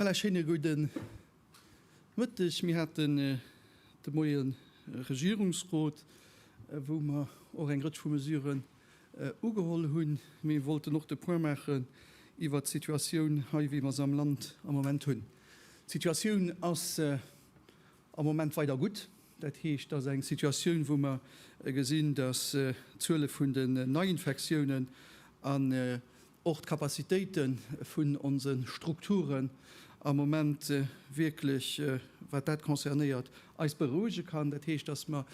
Voilà, schéine gudden Mëtteg, Mir haten de Moien e Regierungsrot, wou mer och eng Rëtsch vu Mesuren ugeholl hunn. Mee wollten och de Point maachen iwwert d'Situatioun hei, wéi mer se am Land am Moment hunn. D'Situatioun ass am Moment weider gutt. Dat heescht, et ass eng Situatioun, wou mer gesinn, datt d'Zuele vun den Neiinfektiounen an och d'Capacitéite vun onse Strukturen am Moment wierklech, wat dat concernéiert, eis berouege kann. Dat heescht, datt mer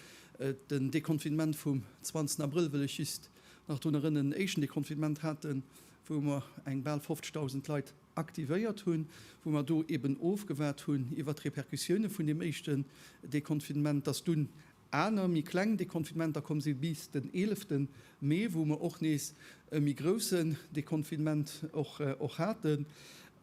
den Deconfinement vum 20 Abrëll, wëll ech just nach drun erënnen, en éischten Deconfinement haten, wou mer eng bal 50.000 Leit aktivéiert hunn, wou mer do eeben ofgewaart hunn iwwert d'Repercussioune vun deem éischten Deconfinement, datt dunn Aner méi kleng Deconfinementer komm si bis den 11 Mee, wou mer och nees e méi groussen Deconfinement och haten.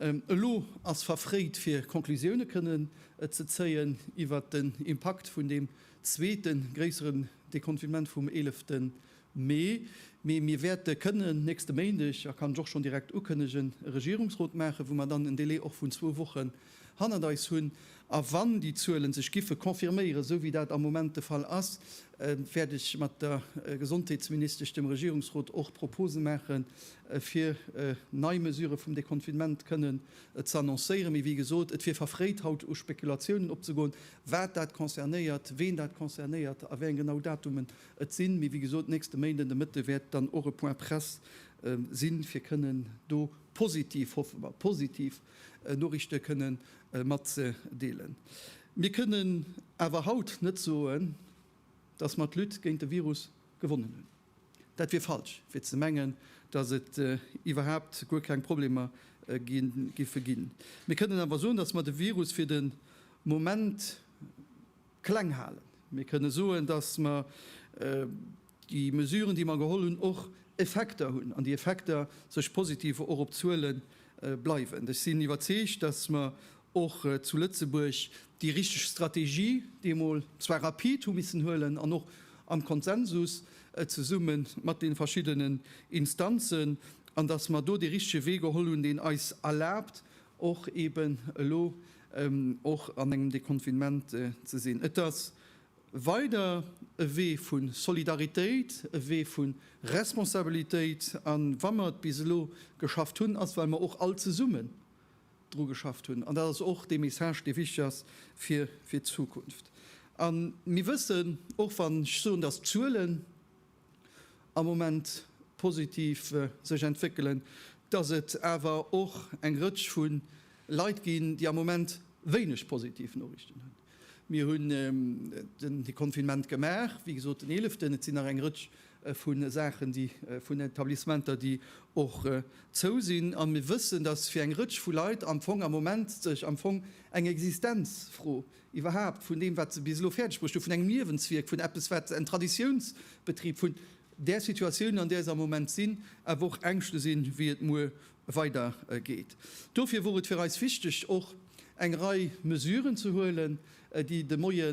Elo ass verfréit fir Conclusioune kënnen ze zéien iwwert den Impakt vun deem zweete gréisseren Deconfinement vum 11 Mee, mee mir wäerte kënnen nächste Méindeg, a kann ech och schonn direkt ukënnegen, e Regierungsrot maachen, wou mer dann en Délai och vun zwou Wochen hannert eis hunn. A wann déi Zuele sech giffe confirméieren, esou wéi dat am Moment de Fall ass, wäert ech mat der Gesondheetsministesch dem Regierungsrot och Propose maachen, fir nei Mesurë vum Deconfinement kënnen ze annoncéieren. Mee wéi gesot, et wier verfréit haut u Spekulatiounen opzegoen, wat dat concernéiert, ween dat concernéiert a wéi eng genau Datumen Et sinn, mee wéi gesot, nächste Méinden de Mëtte wäert dann och e Point presse sinn, fir kënnen do positiv, hoffe mer, positiv Noriichte kënne matzedeelen. Mir kënnen awer haut net soen, dass mer d'Lutte géint de Virus gewonnen hunn. Dat wier falsch, fir ze mengen, dass et iwwerhaapt guer keng Problemer giffe ginn. Mir kënnen awer soen, dass mer de Virus fir de Moment, kleng halen. Mir kënne soen, dass mer déi Mesuren, déi mer geholl hunn, och Effekter hunn an déi Effekter sech positiv och op d'Zuele bleiwen. Ech sinn iwwerzeegt, dass mer och zu Lëtzebuerg déi richteg Strategie deemol zwar rapid hu missen huelen an och am Konsensus zesumme mat de verschiddenen Instanzen, an dass mer do dee richtege Wee geholl hunn, deen eis erlaabt och eben elo och an engem Deconfinement ze sinn. Et ass weider e Wee vu Solidaritéit, e Wee vu Responsabilitéit. A wa mer et bis elo geschafft hunn, ass well mer och all zesummen dru geschafft hunn. An dat ass och dee Message, dee wichteg ass fir d'Zukunft. A mir wëssen, och wann ech soen, dass d'Zuelen, am Moment positiv sech entwéckelen, dass et awer och eng Rëtsch vu Leit ginn, déi am Moment wéineg positiv Noriichten hunn. Mir hunn den Deconfinement gemaach, wéi gesot den Eeleften. Et sinn nach eng Rëtsch vu Saachen, déi vun Etablissementer, déi och zou sinn. A mir wëssen, dass fir eng Rëtsch vu Leit am Fong am Moment sech am Fong eng Existenzfro iwwerhaapt vun deem, wat se bis elo fäerdegbruecht hu, vun engem Liewenswierk, vun eppes, wat en Traditiounsbetrib, vun där Situatioun, an där se am Moment sinn, awer och Ängschte sinn, wéi et muer weidergeet. Dofir wor et fir eis wichteg, och eng Rei Mesuren ze huelen, déi de Moie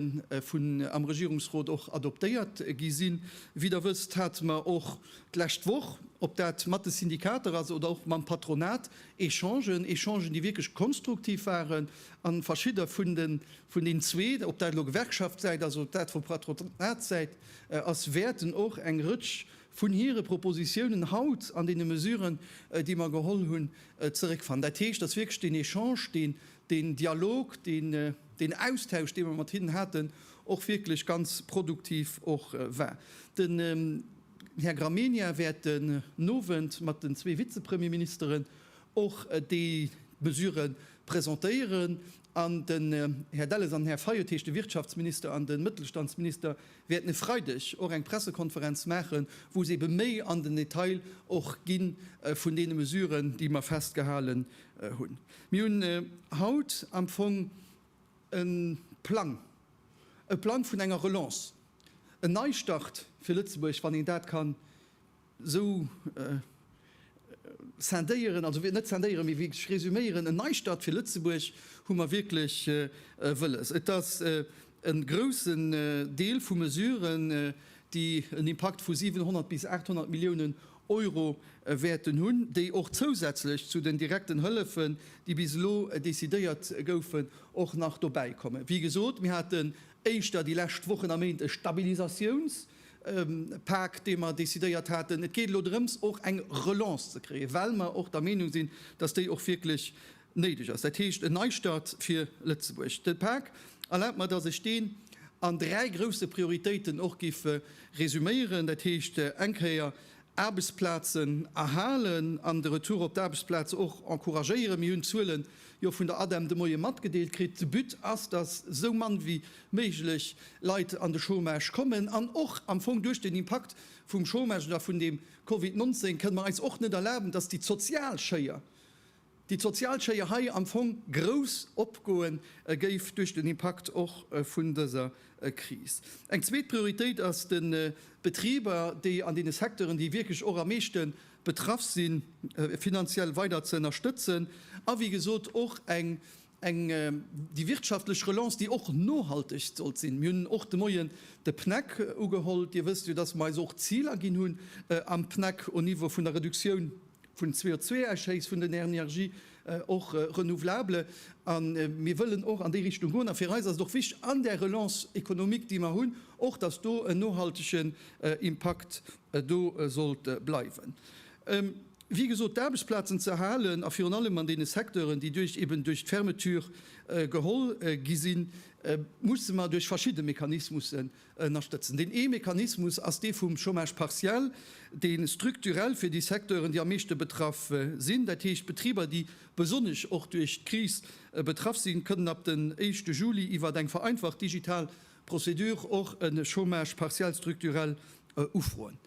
vun am Regierungsrot och adoptéiert gi sinn. Wéi Der wësst, hate mer och d'lescht Woch, ob dat mat de Syndikater ass oder och mam Patronat, Echangen, Echangen, déi wierklech konstruktiv waren, A verschidde vun den, vun den zwee, ob dat elo Gewerkschaftssäit ass oder dat vu Patronatssäit ass, wäerten och eng Rëtsch vun hire Propositionen haut an deene Mesuren, déi mer geholl hunn, zeréckfannen. Dat heescht, dass wierklech deen Echange, deen, deen Dialog, deen, deen Austausch, dee mer mat hinnen haten, och wierklech ganz produktiv och war. Den Här Gramegna wäert den Owend mat den zwee Vizepremierministeren och déi Mesuren, presentéieren an den Här Delles an den Här Fayot, dat heescht de Wirtschaftsminister an de Mëttelstandsminister, wäerten e Freideg och eng Pressekonferenz maachen, wou se ebe méi an den Detail och gi vun deene Mesuren, déi mer festgehalen hunn. Mir hunn haut am Fong e Plang, e Plang vun enger Relance, en Neistart fir Lëtzebuerg, wann een dat ka Sou scindéieren, also net scindéieren, mee wierklech resüméieren, en Neistart fir Lëtzebuerg hu mer wierklech wëlles. Et ass e groussen Deel vu Mesuren, déi en Impakt vu 700 bis 800 Milliounen Euro wäerten hunn, déi och zousätzlech zu den direkten Hëllefen, déi bis elo decidéiert goufen, och nach dobäikommen. Wéi gesot, mir haten éischter déi lescht Wochen a Méint e Stabilisatiounsprogramm, Pak, dee mer decidéiert haten. Et geet elo drëms, och eng Relance ze kréien, well mer och der Meenung sinn, dass déi och wierklech néideg ass, dat heescht en Neistart fir Lëtzebuerg. De Pak, erlaabt mer, dass ech deen an dräi grousse Prioritéiten och géif resuméieren, dat heescht eng Kéier Aarbechtsplazen erhalen an de Retour op d'Aarbechtsplaz och encouragéieren. Mir hunn d'Zuele jo vun der ADEM de Moie matgedeelt kritt. De But ass, dass esou mann wéi méiglech Leit an de Chômage kommen. An och am Fong duerch den Impakt vum Chômage oder vun deem Covid 19 kënne mer eis och net erlaben, dass déi d'sozial Schéier déi d'Sozialschéier hei am Fong grouss opgoe géif duerch den Impakt och vun dëser Kris. Eng zweet Prioritéit ass de Betriber, déi an deene Secteuren, déi wierklech och am meeschte betraff sinn, finanziell weider ze ënnerstëtzen a wéi gesot och eng Eng déi wirtschaftlech Relance, déi och nohalteg sollt sinn. Mir hunn och de Moien de PNAC ugeholl. Dir wësst jo, dass mer eis och Ziler ginn hunn am PNAC au Niveau vun der Reduktioun vun CO2-Ausschéiss vun den Energien, och renouvelable. A mir wëllen och an déi Richtung goen. A fir eis ass et och wichtig an där Relance économique, déi mer hunn, och dass do en nohaltegen Impakt do sollt bleiwen. wéi gesot, d'Aarbechtsplazen ze erhalen a virun allem an deene Secteuren, déi duerch eben duerch d'Fermeture geholl gi sinn, musse mer duerch verschidde Mechanismussen ënnerstëtzen. Deen ee Mechanismus ass dee vum Chômage partiel, dee strukturell fir déi Secteuren, déi am meeschte betraff sinn, dat heescht d'Betriber, déi besonnesch och duerch d'Kris betraff sinn, kënnen ab den éischte Juli iwwert eng vereinfacht digital Procédure och e Chômage partiel structurel ufroen.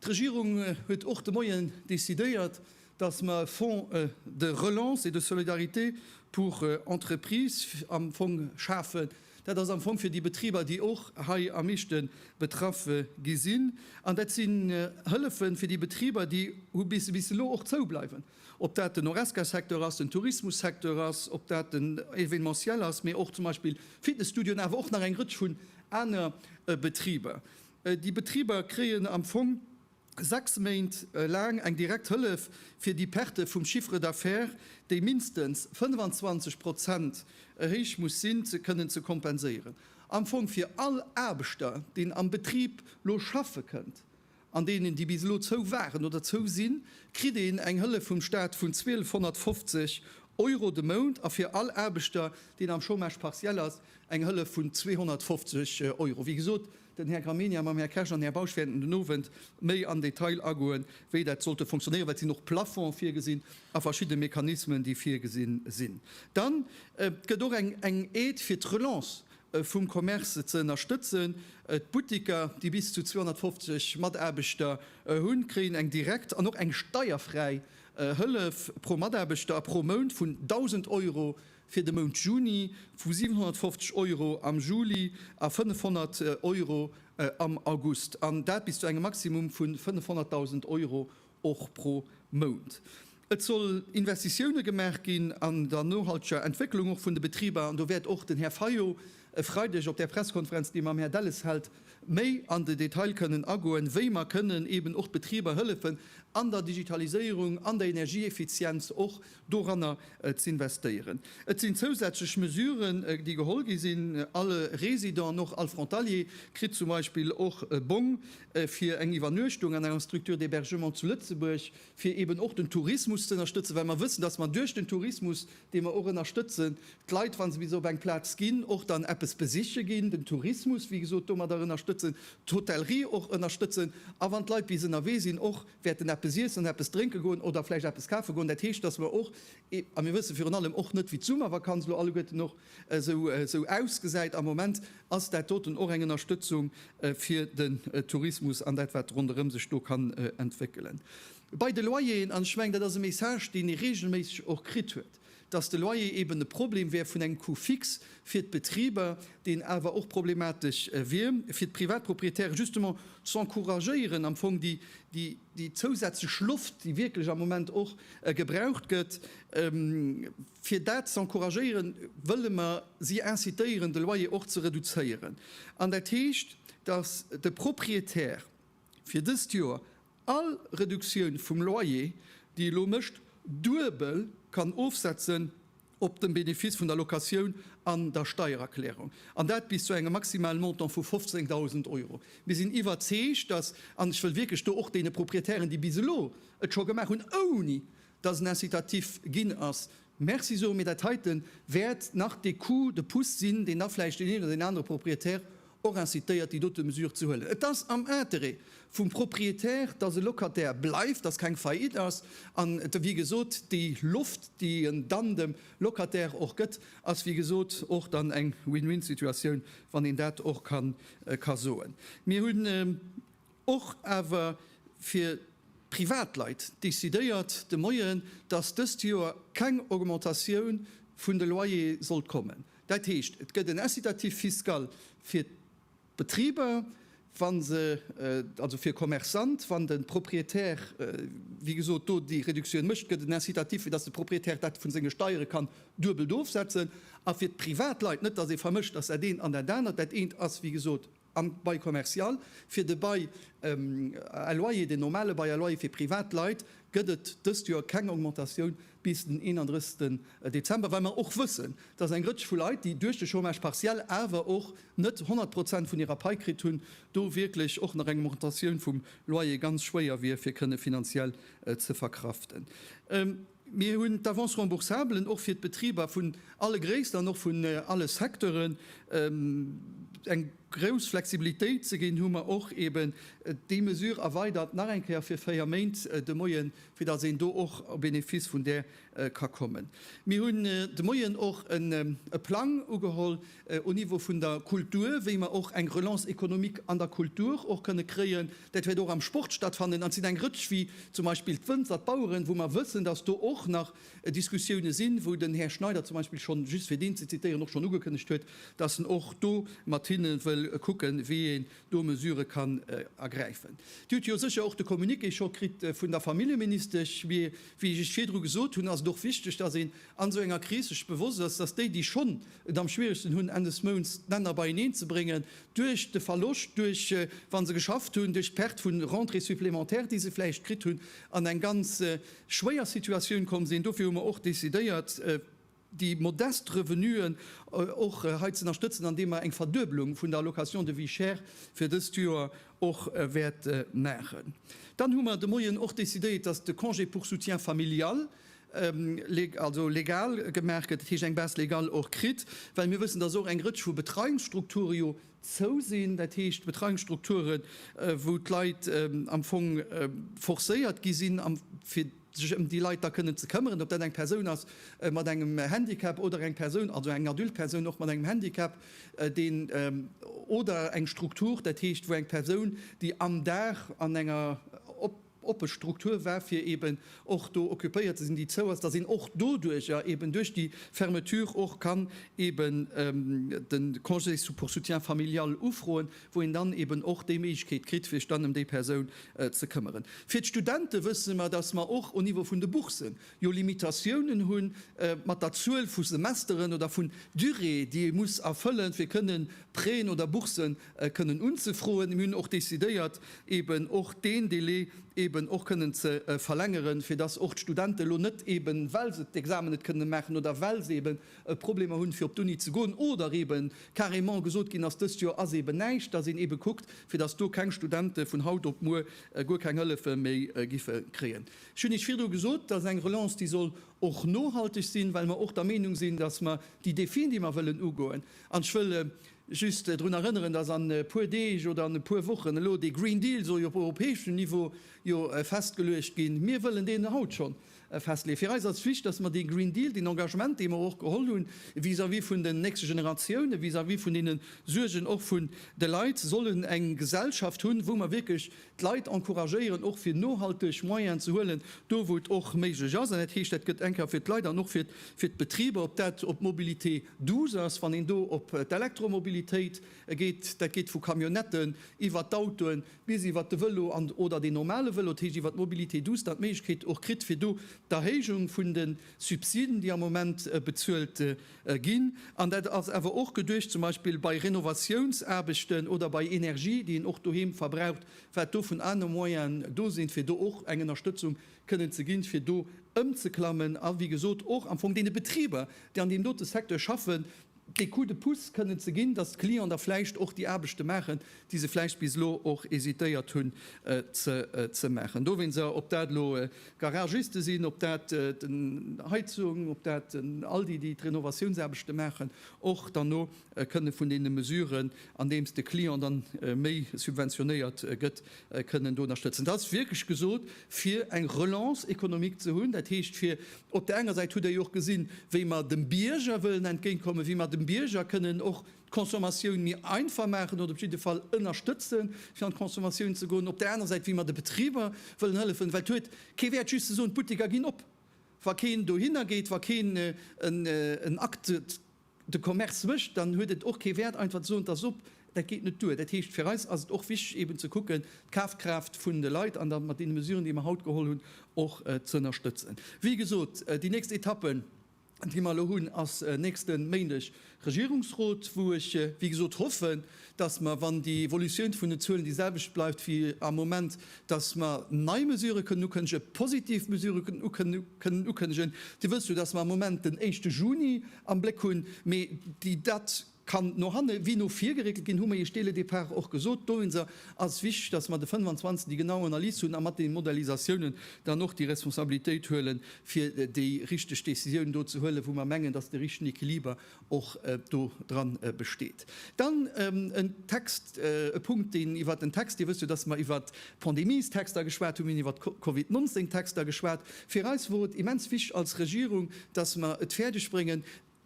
D'Regierung huet och de Moien decidéiert, dass mer e Fonds de relance et de solidarité pour entreprises am Fong schafen. Dat ass am Fong fir déi Betriber, déi och hei am meeschte betraff gi sinn. An dat sinn Hëllefen fir déi Betriber, déi bis elo och zoubleiwen. Ob dat den Horesca-Secteur ass, den Tourismus-Secteur ass, ob dat den Événementiel ass, mee och zum Beispill Fitness-Studioen, awer och nach eng Rëtsch vun aner Betriber. Déi Betriber kréien am Fong sechs Méint laang eng direkt Hëllef, fir déi Perte vum Chiffre d'affaires, déi mindestens 25 Prozent héich muss sinn, ze kënnen ze kompenséieren. Am Fong fir all Aarbechter, deen am Betrib lo schaffe kënnt, an deenen, déi bis elo zou waren oder zou sinn, kritt een eng Hëllef vum Staat vun 1250 Euro de Mount a fir all Aarbechter, deen am Chômage partiel ass, eng Hëllef vun 250 Euro. Wéi gesot, den Här Gramegna mam Här Kersch an Här Bausch wäerten den Owend méi am Detail agoen, wéi dat sollte fonctionnéieren, well et sinn och Plafonds virgesinn a verschidde Mechanismen, déi virgesinn sinn. Dann gëtt och eng Aide fir d'Relance vum Commerce ze ënnerstëtzen. D'Buttiker, déi bis zu 250 Mataarbechter hunn, kréien eng direkt an och eng steierfräi Hëllef pro Mataarbechter a pro Mount vun 1.000 Euro fir de Mount Juni, vu 750 Euro am Juli a 500 Euro am August, an dat bis zu engem Maximum vu 500.000 Euro och pro Mount. Et soll Investitioune gemaach ginn an der nohalteger Entwécklung och vun de Betriber, an do wäert och den Här Fayot e Freideg op där Pressekonferenz, déi e mam Här Delles hält, méi an de Detail kënnen agoen, wéi mer kënnen eeben och d'Betriber hëllefen an der Digitaliséierung, an der Energieeffizienz och. doranner z'investéieren. Et sinn zousätzlech Mesuren, déi geholl gi sinn, All Résident, och all Frontalier, kritt zum Beispill och e Bong fir eng Iwwernuechtung an enger Structure d'hébergement zu Lëtzebuerg, fir eeben och den Tourismus ze ënnerstëtzen, well mer wëssen, dass mer duerch den Tourismus, dee mer och ënnerstëtzen, d'Leit, wa se bis op eng Plaz ginn, och dann eppes besiche ginn, den Tourismus, wéi gesot, domadder ënnerstëtzen, d'Hotellerie och ënnerstëtzen a wann d'Leit bis ënnerwee sinn, och wäerten eppes iessen an eppes drénke goen oder vläicht eppes kafe goen. Dat heescht, dass mer och, a mir wësse virun allem och net, wéi d'Summervakanz elo alleguerten och esou ausgesäit, am Moment ass dat doten och eng Ënnerstëtzung fir den Tourismus an dat, wat ronderëm sech do kann entwéckelen. Bei de Loyeren, an ech mengen, dat ass e Message, deen ee reegelméisseg och kritt huet, dass de Loyer eben e Problem wär vun engem Coût fixe fir d'Betriber, deen awer och problematesch wier fir d'Privatproprietäre, justement z'encouragéieren am Fong déi zousätzlech Loft, déi wierklech am Moment och gebraucht gëtt, fir dat z'encouragéieren, wëlle mer si incitéieren, de Loyer och ze reduzéieren. An dat heescht, dass de Proprietär fir dëst Joer All Reduktioun vum Loyer, déi elo mécht, duebel kann ofsetzen op de Benefice vun der Locatioun an der Steiererklärung, an dat bis zu engem maximalen Montant vu 15.000 Euro. Mir sinn iwwerzeegt, dass, an ech wëll wierklech do och deene Proprietären, déi bis elo et scho gemaach hunn, ouni dass en incitatif ginn ass, Merci soe mir, dat heite wäert nach dee Coup de pouce sinn, deen da vläicht deen een oder deen anere Propriétaire och incitéiert, déi dote Mesure ze huelen. Et ass am Intérêt vum Propriétaire, dass e Locataire bleift, dass keng Faillite ass. An wéi gesot, déi Loft, déi en dann dem Locataire och gëtt, ass wéi gesot och dann eng Win-win-Situatioun, wann een dat och ka soen. Mir hunn. Och awer fir d'Privatleit decidéiert de Moien, dass dëst Joer keng Augmentatioun vun de Loyere sollt kommen. Dat heescht, et gëtt en Incitatif fiscal fir d'Betriber, wann se, also fir Commerçante, wann de Propriétaire, wéi gesot, do déi Reduktioun mécht, gëtt en Incitatif, fir dass de Propriétaire dat vu senge Steiere kann duebelt ofsetzen. A fir d'Privatleit, net dass ee vermëscht, dass dat eent an dat anert, dat eent ass, wéi gesot, Am Bail commercial, fir de Bail à loyer, den normale Bail à loyer fir privat Leit, gëtt et dëst Joer keng Augmentatioun bis den 31 Dezember, well mer och wëssen, dass eng Rëtsch vu Leit, déi duerch de Chômage partiel awer och net 100 Prozent vun hirer Pai kritt hunn, do wierklech och nach eng Augmentatioun vum Loyer ganz schwéier wier fir kënne finanziell ze verkraften. Mir hunn d'Avance remboursablen och fir d'Betriber vun alle Gréisst an och vun alle Secteuren eng grouss Flexibilitéit ze ginn, hu mer och eeben déi Mesure erweidert nach eng Kéier fir véier Méint de Moien, fir datt een do och au bénéfice vun där ka kommen. Mir hunn de Moien och e Plang ugeholl au Niveau vun der Kultur, wéi mer och eng Relance économique an der Kultur och kënne kréien. Dat wäert och am Sport stattfannen an et sinn eng Rëtsch wéi zum Beispill d'Wënzer, d'Baueren, wou mer wëssen, dass do och nach Diskussioune sinn, wou den Här Schneider zum Beispill schonn, just fir deen ze zitieren, och schonn ugekënnegt huet, dass en och do mat hinne wëll kucken, wéi een do Mesurë kann ergräifen. Dir hutt jo sécher och de Communiqué scho kritt vun der Familljeministesch. Mee wéi ech Iech virdru gesot hunn, ass et och wichteg, dass een an esou enger Kris sech bewosst ass, dass déi, déi schonn et am schwieregsten hunn, Enn des Mounts d'Länner beieneen ze bréngen, duerch de Verloscht, duerch, wa se geschafft hunn, duerch d'Perte vu Rentrées supplémentaires, déi se vläicht kritt hunn, an eng ganz schwéier Situatioun komm sinn. Dofir hu mer och decidéiert, déi modest Revenuen och hei ze ënnerstëtzen, andeem mer eng Verduebelung vun der Allocation de vie chère fir dëst Joer och wäerte maachen. Dann hu mer de Moien och decidéiert, dass de Congé pour soutien familial, also legal gemaach gëtt, dat heescht eng Base légale och kritt, well mir wëssen, dass och eng Rëtsch vu Betreiungsstrukture jo zou sinn, dat heescht Betreiungsstrukture wou d'Leit am Fong forcéiert gi sinn, fir sech ëm déi Leit da kënnen ze këmmeren, ob dat eng Persoun ass mat engem Handicap oder eng Persoun, also eng adult Persoun och mat engem Handicap, deen oder eng Struktur, dat heescht wou eng Persoun, déi am Dag an enger op. oppe Struktur war, fir eben och do occupéiert ze sinn, déi zou ass, datt een och doduerjer eben duerch déi Fermeture och kann eben de Congé pour soutien familial ufroen, wou een dann eben och déi Méiglechkeet kritt, sech dann ëm déi Persoun ze këmmeren. Fir d'Studente wësse mer, datt mer och au Niveau vun de Bourssen jo Limitatiounen hu mat der Zuel vu Semesteren oder vun Durée, déi ee muss erfëllen, fir kënnen Prêten oder Bourssen kënnen unzefroen. Mir hunn och décidéiert eben och deen Délai eben och kënnen ze verlängeren, fir dass och d'Studenten elo net eben, well se d'Examen net kënnen maachen oder well se eben Problemer hunn, fir op d'Uni ze goen, oder eben carrément gesot ginn ass, dëst Joer ass eben näischt, dass een eben kuckt, fir dass do keng Studenten vun haut op muer guer keng Hëllefe méi giffe kréien. Ech hunn Iech virdru gesot, dass eng Relance, déi soll och nohalteg sinn, well mer och der Meenung sinn, dass mer déi Défien, déi mer wëllen ugoen, an ech wëll, Just drun erënneren, dass an e puer Deeg oder an e puer Wochen elo dee Green Deal soll jo op europäeschem Niveau jo festgeluecht ginn. Mir wëllen deen haut scho festleeën. Fir eis ass d'Flicht, dass mer dee Green Deal, deen Engagement, dee mer och geholl hunn vis-à-vis vun den nächste Generatiounen, vis-à-vis vun deene Suergen och vun de Leit, sollen eng Gesellschaft hunn, wou mer wierklech d'Leit encouragéieren, och fir nohalteg Moyenen ze huelen, do wou et och méiglech ass. An dat heescht, dat gëtt eng Kéier fir d'Leit an och fir d'Betriber, ob dat op d'Mobilité, Douce ass, wann een do op d'Elektromobilitéit geet. Dat geet vu Camionnetten iwwert d'Autoen bis iwwert de Vëlo an oder deen normale Vëlo. Dat heescht, iwwert d'Mobilité douce, dann d'Méiglechkeet och kritt, fir do d'Erhéijung vun de Subsiden, déi am Moment bezuelt ginn. An dat ass awer och geduecht zum Beispill bei Renovatiounsaarbechten oder bei Energie, déi een och doheem verbraucht, wat do vun anere Moyene do sinn, fir do och eng Ënnerstëtzung kënnen ze ginn, fir do ëmzeklammen a wéi gesot och am Fong deene Betriber, déi an deem dote Secteur schaffen, dee Coup de pouce kënnen ze ginn, datt d'Clienten da vläicht och déi Aarbechte maachen, déi se vläicht bis elo och hésitéiert hunn ze maachen. Dowéinst se, ob dat elo Garagiste sinn, ob dat den Heizung, ob dat den Aldi, déi d'Renovatiounsaarbechte maachen, och dann no kënne vun deene Mesuren, andeems de Client dann méi subventionéiert gëtt, kënnen do ënnerstëtzen. Dat ass wierklech gesot, fir eng Relance économique ze hunn. Dat heescht, fir op där enger Säit, hutt Der jo och gesinn, wéi mer dem Bierger wëllen entgéintkommen, wéi mer dem Bierger kënnen och d'Consommatioun méi einfach maachen oder op jidde Fall ënnerstëtze fir an d'Consommatioun ze goen, op där anerer Säit, wéi mer de Betriber wëllen hëllefen. Well et huet kee Wäert, just ze soen, d'Butteker ginn op, wa keen dohinner geet, wa keen en Acte de Commerce mécht, dann huet et och kee Wäert einfach ze soen, et ass op. Dat geet net duer. Dat heescht, fir eis ass et och wichteg eeben ze kucken, d'Kafkraaft vun de Leit an da mat deene Mesuren, déi mer haut geholl hunn, och ze ënnerstëtzen. Wéi gesot, déi nächst Etappe, déi mer elo hunn, ass nächste Méindeg Regierungsrot, wou ech, wéi gesot, hoffen, dass mer, wann déi Evolutioun vun den Zuelen déi selwecht bleift wéi am Moment, dass mer nei Mesurë kënnen ukënnege, positiv Mesurë kënnen ukënnegen. Dir wësst jo, dass mer am Moment den éischte Juni am Bléck hunn, mee déi Date kann no hanne wéi no vir geréckelt ginn, hu mer Iech dès le départ och gesot. Dowéinster ass et wichteg, dass mer de 25 déi genau Analys hunn a mat deene Modellisatiounen dann och déi Responsabilitéit huelen, fir déi richteg Décisioun do ze huelen, wou mer mengen, dass de richtegen Equiliber och do dran besteet. Dann en Text, e Punkt, deen iwwert den Text, Dir wësst jo, dass mer iwwert d'Pandemiestexter geschwat hunn, mir hunn iwwert d'Covid 19 Texter geschwat. Fir eis wor et immens wichtig als Regierung, dass mer et fäerdeg bréngen,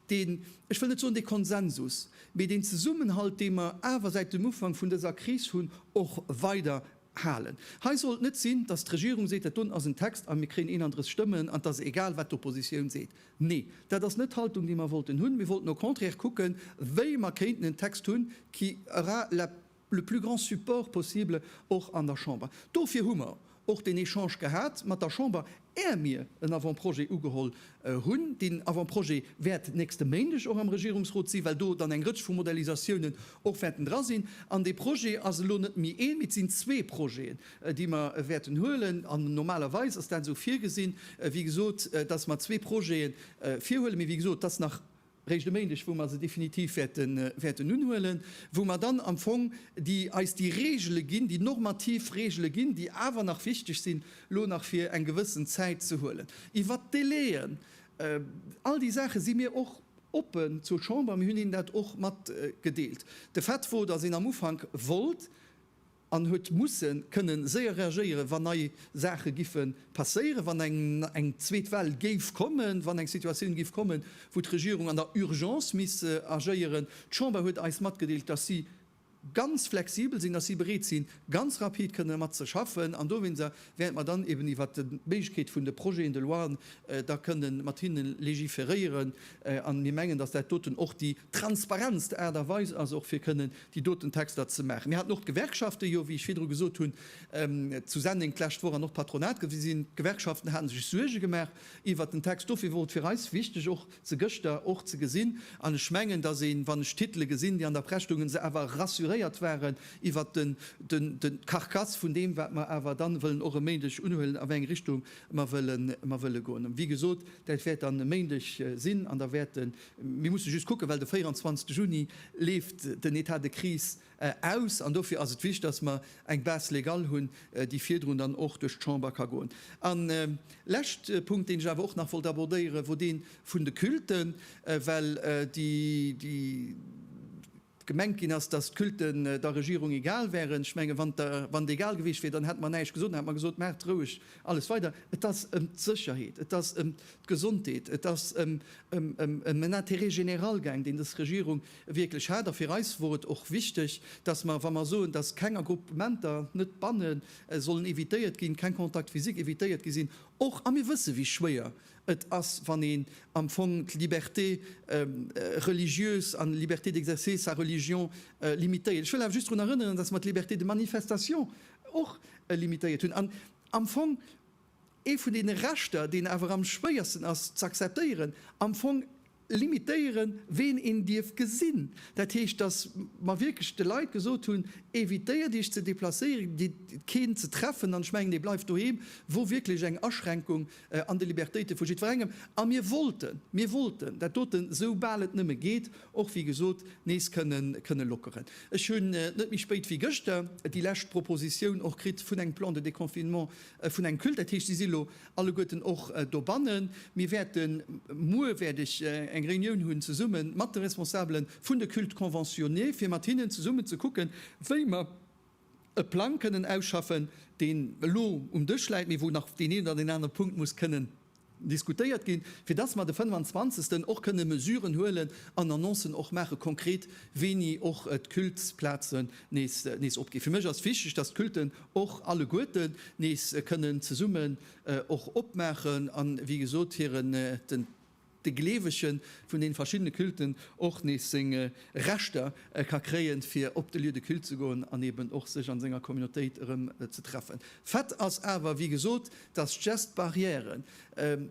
deen, ech wëll net soen, dee Konsensus, mee deen Zesummenhalt, dee mer awer säit dem Ufank vun dëser Kris hunn, och weider Halen. Hei sollt net sinn, dass d'Regierung seet, dat do ass en Text a mir kréien 31 Stëmmen an et ass egal, wat d'Oppositioun seet. Nee, dat ass net d'Haltung, déi mer wollten hunn. Mir wollten au contraire kucken, wéi mer kéinten en Text hunn, qui aura la le plus grand support possible och an der Chamber. Dofir hu mer och deen Echange gehat mat der Chamber. Är mir en Avant-projet ugeholl hunn. Deen Avant-projet wäert nächste Méindeg och am Regierungsrot sinn, well do dann eng Rëtsch vu Modellisatiounen och wäerten dra sinn. An dee Projet ass elo net méi een, mee et sinn zwee Projeten, déi mer wäerten huelen. An normalerweis ass dat esou virgesinn, wéi gesot, dass mer zwee Projete virhuelen. Mee wéi gesot, et ass nach réischt e Méindeg, wou mer se definitiv wäerten unhuelen, wou mer dann am Fong eis déi Reegele ginn, déi normativ Reegele ginn, déi awer nach wichteg sinn, elo nach fir eng gewëssen Zäit ze huelen. Iwwert d'Délai'en, all déi Saache si mir och oppen zur Chamber, mir hunn hinnen dat och matgedeelt. De Fait wor, dass een am Ufank wollt, an huet musse kënne séier reagéieren, wann nei Saache giffe passéieren, wann eng zweet Well géif kommen, wann eng Situatioun géif kommen, wou d'Regierung an der Urgence misst agéieren. D'Chamber huet eis matgedeelt, dass si ganz flexibel sinn, dass si bereet sinn, ganz rapid kënne mat ze schaffen, an dowéinst wäerte mer dann eben iwwert d'Méiglechkeet vun de Projeten de loien da kënne mat hinne legiferéieren. A mir mengen, dass dat doten och déi transparentst Aart a Weis ass, och fir kënne déi doten Texter ze maachen. Mir haten och d'Gewerkschaften jo, wéi ech virdru gesot hunn, zu Senneng d'lescht Woch an och d'Patronat gesinn. D'Gewerkschaften hate sech Suerge gemaach iwwert den Text. Dofir wor et fir eis wichteg och se gëschter och ze gesinn. An ech mengen, datt een, wann ech d'Titele gesinn, déi an der Press stoungen, se awer rassuréiert waren iwwert de Carcasse vun deem, wat mer awer dann wëllen och e Méindeg unhuelen, a wéi eng Richtung mer wëlle goen. Wéi gesot, dat wäert dann e Méindeg sinn an da wäerte Mir musse just kucken, well de 24 Juni leeft den État de crise aus an dofir ass et wichtig, dass mer eng Base légale hunn, déi virdrun dann och duerch d'Chamber ka goen. En lescht Punkt, deen ech awer och nach wollt abordéieren, wor dee vun de Culten, well déi, gemengt ginn ass, datt d'Culten der Regierung egal wären. Ech menge wann et egal gewiescht wier, dann hätte mer näischt gesot, dann hätte mer gesot, maacht roueg alles weider. Et ass ëm d'Sécherheet, et ass ëm d'Gesondheet, et ass ëm en Intérêt général gaang, deen dës Regierung wierklech hat. A fir eis wor et och wichteg, datt mer, wa mer soen, datt keng Agruppementer, net d'Banne sollen evitéiert ginn, keng Contact physique evitéiert gi sinn, och, a mir wësse wéi schwéier Et ass, wann een am Fong d'Liberté religieuse an d'Liberté d'exercer sa religion limitéiert. Ech wëll awer just drun erënneren, dass mer d'Liberté de manifestation och limitéiert hunn an am Fong ee vun deene Rechter, deen awer am schwéiersten ass z'akzeptéieren, am Fong, limitéieren, ween een dierf gesinn, dat heescht, datt mer wierklech de Leit gesot hunn, Evitéiert Iech ze deplacéieren, gitt keen ze treffen, an ech mengen, dee bleift doheem, wor wierklech eng Aschränkung an de Libertéite vu jiddwerengem. A mir wollten, mir wollten dat dote sou bal et nëmme geet och, wéi gesot, nees kënne lockeren. Ech hunn net méi spéit wéi gëschter déi lescht Propositioun och kritt vun engem Plan de déconfinement vun engem Culte, dat heescht, si si elo Alleguerten och dobannen. Mir wäerten, muer wäert ech eng Reunioun hunn zesumme mat de Responsabele vun de Cultes conventionnés, fir mat hinnen zesummen ze kucken, wéi mer e Plang kënnen ausschaffen, deen elo um Dësch läit, mee wou nach deen een oder deen anere Punkt muss kënnen diskutéiert ginn, fir dass mer de 25 och kënne Mesuren huelen an Annoncen och maache konkret, wéini och d'Cultesplazen nees opginn. Fir mech ass wichteg, dass d'Culten och alleguerten nees kënnen zesummen och opmaachen a wéi gesot hiren, den, de Gleewegen vun den verschiddene Culten och nees seng Rechter ka kréien, fir op de Lieu de culte ze goen an eben och sech an senger Communautéit erëm ze treffen. Fait ass awer, wéi gesot, dass d'Geste barrièren,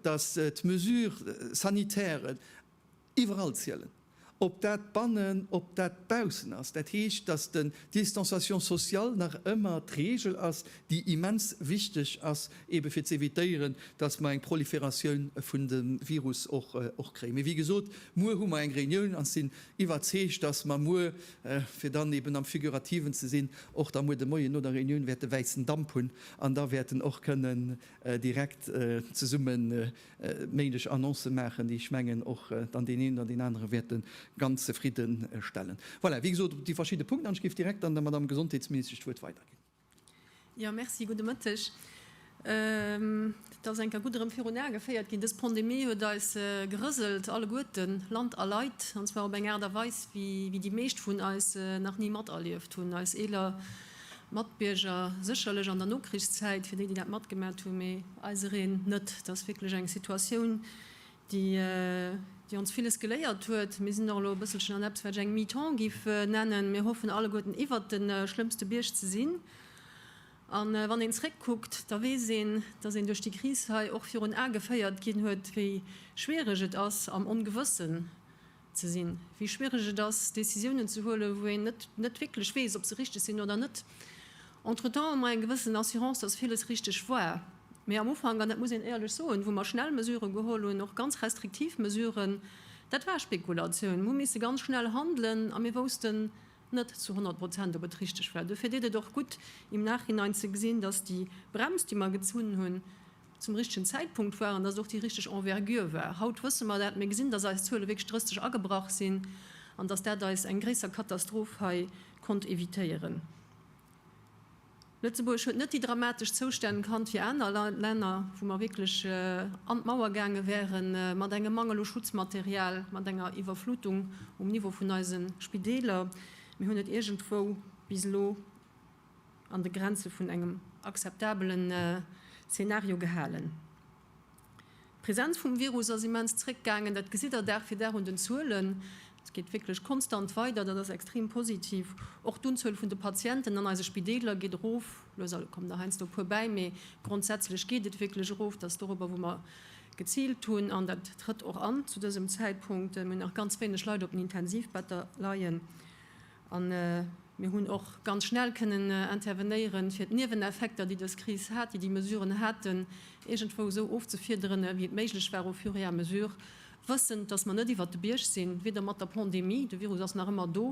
dass d'Mesures sanitairen, Iwwerall zielen, ob dat bannen, ob dat baussen ass. Dat heescht, dass den Distanciation sociale nach ëmmer d'Regel ass, déi immens wichteg ass, eebe fir z'évitéieren, dass mer eng Prolifératioun vun dem Virus och kréien. Mee wéi gesot, muer hu mer eng Reunioun an ech sinn iwwerzeegt, dass mer muer, fir dann eeben am Figurativen ze sinn, och da muer de Moien no der Reunioun wäerte wäissen Damp hunn an da wäerten och kënnen direkt zesummen méiglech Annoncë maachen, déi, ech mengen, och dann deen een oder deen anere wäerte ganz zefridde stellen. Voilà, wéi gesot, op déi verschidde Punkten. An ech géif direkt dann der Madamm Gesondheetsministesch d'Wuert weiderginn. Jo, merci. Gudde Mëtteg. Et ass eng Kéier gutt erëm virun Ae geféiert ginn, Dës Pandemie huet eis gerëselt alleguerten, Land a Leit, an zwar op eng Aart a Weis, wéi déi meescht vun eis nach ni materlieft hunn. Eis eeler Matbierger, sécherlech an der Nokrichszäit, fir déi, déi dat matgemat hunn, mee eisereen net. Et ass wierklech eng Situatioun, déi ons villes geléiert huet. Mir sinn och elo e bësselchen an eppes, wat ech eng Mi-temps géif nennen. Mir hoffen alleguerten, iwwert de schlëmmste Bierg ze sinn. A wann een zréckkuckt, da weess een, dass een duerch déi Kris hei och virun Ae geféiert ginn huet, wéi schwiereg et ass am Ongewëssen, ze sinn, wéi schwiereg et ass, Décisiounen ze huelen, wou een net net wierklech weess, ob se richteg sinn oder net. Entretemps hu mer eng gewëssen Assurance, dass villes richteg war. Mee am Ufank, an dat muss een éierlech soen, wou mer schnell Mesuren geholl hunn, och ganz restriktiv Mesuren, dat war Spekulatioun. Mir hu misse ganz schnell handelen a mir woussten net zu honnert Prozent, ob et richteg war. Dofir deet et och gutt, im Nachhinein ze gesinn, dass déi Brems, déi mer gezunn hunn, zum richtegen Zäitpunkt war an dass et och déi richteg Envergure war. Haut wësse mer dat, mir gesinn, dass eis Zuele wierklech drësteg agebrach sinn an dass dat eis eng gréisser Katastroph hei konnt évitéieren. Lëtzebuerg huet net déi dramatesch Zoustänn kannt wéi aner Länner, wou mer wierklech an d'Mauer gaange wäre mat engem Mangel u Schutzmaterial, mat enger Iwwerflutung um Niveau vun eise Spideeler. Mir hunn et iergendwou bis elo. an de Grenze vun engem akzeptabele Szenario gehalen. D'Presenz vum Virus ass immens zréckgaangen, dat gesitt Der Dag fir Dag un den Zuelen. Et geet wierklech konstant weider, dat ass extrem positiv. Och d'Unzuel vun de Patienten an eise Spideeler geet erof. Lues a lues kommen der heiansdo e puer bäi, mee grondsätzlech geet et wierklech erof. Dat ass dorobber, wou mer geziilt hunn, an dat trëtt och an zu dësem Zäitpunkt. Mir hunn nach ganz wéineg Leit op den Intensivbetter leien. A mir hunn och ganz schnell kënnen intervenéieren, fir d'Nieweneffekter, déi dës Kris hat, déi déi Mesuren haten, iergendwou esou ofzefiederen, wéi et méiglech war au fur et à mesure, wëssend, dass mer net iwwert de Bierg sinn, weder mat der Pandemie, de Virus ass nach ëmmer do,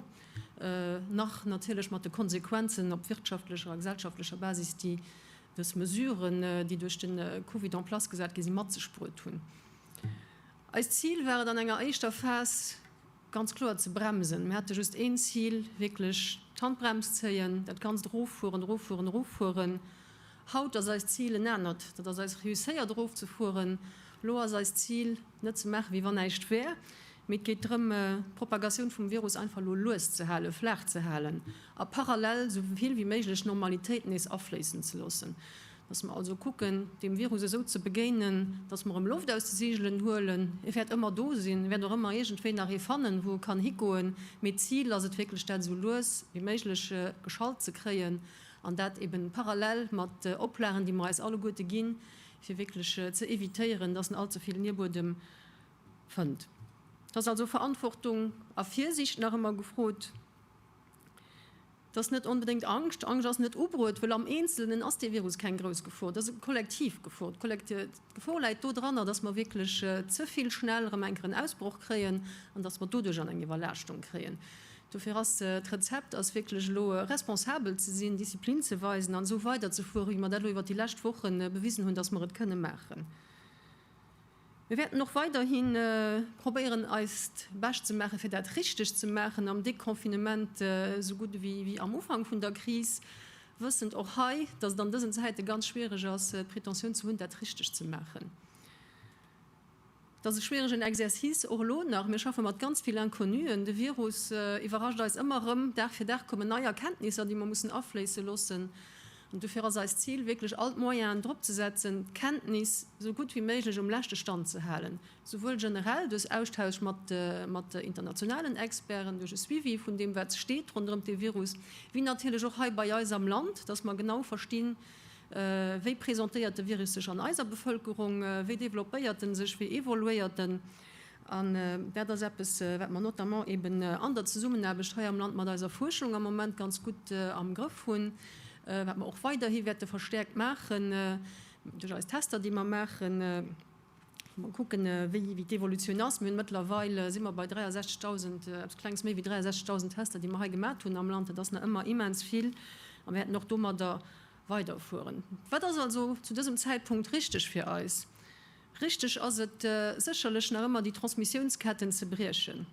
nach natierlech mat de Konsequenzen op wirtschaftlecher a gesellschaftlecher Basis, déi dës Mesuren, déi duerch de Covid en place gesat gi sinn, mat sech bruet hunn. Eist Zil war et an enger éischter Phas, ganz kloer ze bremsen. Mir hate just een Zil, wierklech d'Handbrems zéien, dat Ganzt eroffueren, eroffueren, eroffueren. Haut ass eist Zil en anert. Dat ass eis reusséiert erofzefueren. Elo ass eist Zil, net ze maache wéi wann näischt wär, mee et geet drëm, d'Propagatioun vum Virus einfach elo lues ze halen, flaach ze halen a parallel esou vill wéi méiglech Normalitéit nees afléissen ze loossen. Datt mer also kucken, deem Virus esou ze begéinen, datt mer em Loft aus de Seegelen huelen. E wäert ëmmer do sinn, e wäert och ëmmer iergendwéi nach ee fannen, wou e kann higoen. Mee d'Zil ass et wierklech, dat esou lues wéi méiglech geschallt ze kréien, an dat eebe parallel mat Oplagen, déi mer eis alleguerte ginn, fir wierklech ze evitéieren, datt en all ze vill Nierbuedem fënnt. Et ass also Verantwortung a Virsiicht nach ëmmer gefrot. Dass net onbedéngt Angscht, Angscht ass net ubruet, well am Eenzelnen ass dee Virus keng grouss Gefor, et ass e kollektiv Gefor. D'Gefor läit do dranner, dass mer wierklech ze vill schnell erëm enker en Ausbroch kréien an dass mer doduerch an eng Iwwerlaaschtung kréien. Dofir ass d'Rezept ass wierklech elo responsabel ze sinn, Disziplin ze weisen an esou weiderzefuere wéi mer dat elo iwwert déi lescht Woche bewisen hunn, dass mer et kënne maachen. Mir wäerten och weiderhi probéieren eist Bescht ze maachen, fir dat richteg ze maachen am Deconfinement esou gutt ewéi am Ufank vun der Kris, wëssend och hei, datt et an dësen Zäite ganz schwiereg ass, d'Pretentioun ze hunn, dat richteg ze maachen. Et ass e schwieregen Exercice, och elo nach. Mir schaffe mat ganz vill Inconnuen. De Virus iwwerrascht eis ëmmer erëm. Dag fir Dag kommen nei Erkenntnisser, déi mer mussen afléisse loossen. Dofir ass eist Zil, wierklech all d'Moyenen drop ze setzen, d'Kenntnis esou gutt wéi méiglech um leschte Stand ze halen, souwuel generell duerch Austausch mat internationalen Experten, duerch e Suivi vun deem, wat steet ronderëm de Virus, wéi natierlech och hei bei eis am Land, dass mer genau verstinn, wéi presentéiert de Virus sech an eiser Bevëlkerung, wéi developpéiert en sech, wéi evoluéiert en. An dat ass eppes, wat mer notamment eeben an der Zesummenaarbecht hei am Land mat eiser Fuerschung am Moment ganz gutt am Grëff hunn, wat mer och weiderhi wäerte verstäerkt maachen duerch eis Tester, déi mer maachen, wou mer kucken, wéi d'Evolutioun ass. Mir hunn mëttlerweil, si mer bei 63.000, eppes Klenges méi wéi 63.000 Tester, déi mer hei gemat hunn am Land. Dat ass nach ëmmer immens vill a mir wäerten och domadder weiderfueren. Wat ass also zu dësem Zäitpunkt richteg fir eis? Richteg ass et sécherlech nach ëmmer, déi Transmissiounsketten ze briechen.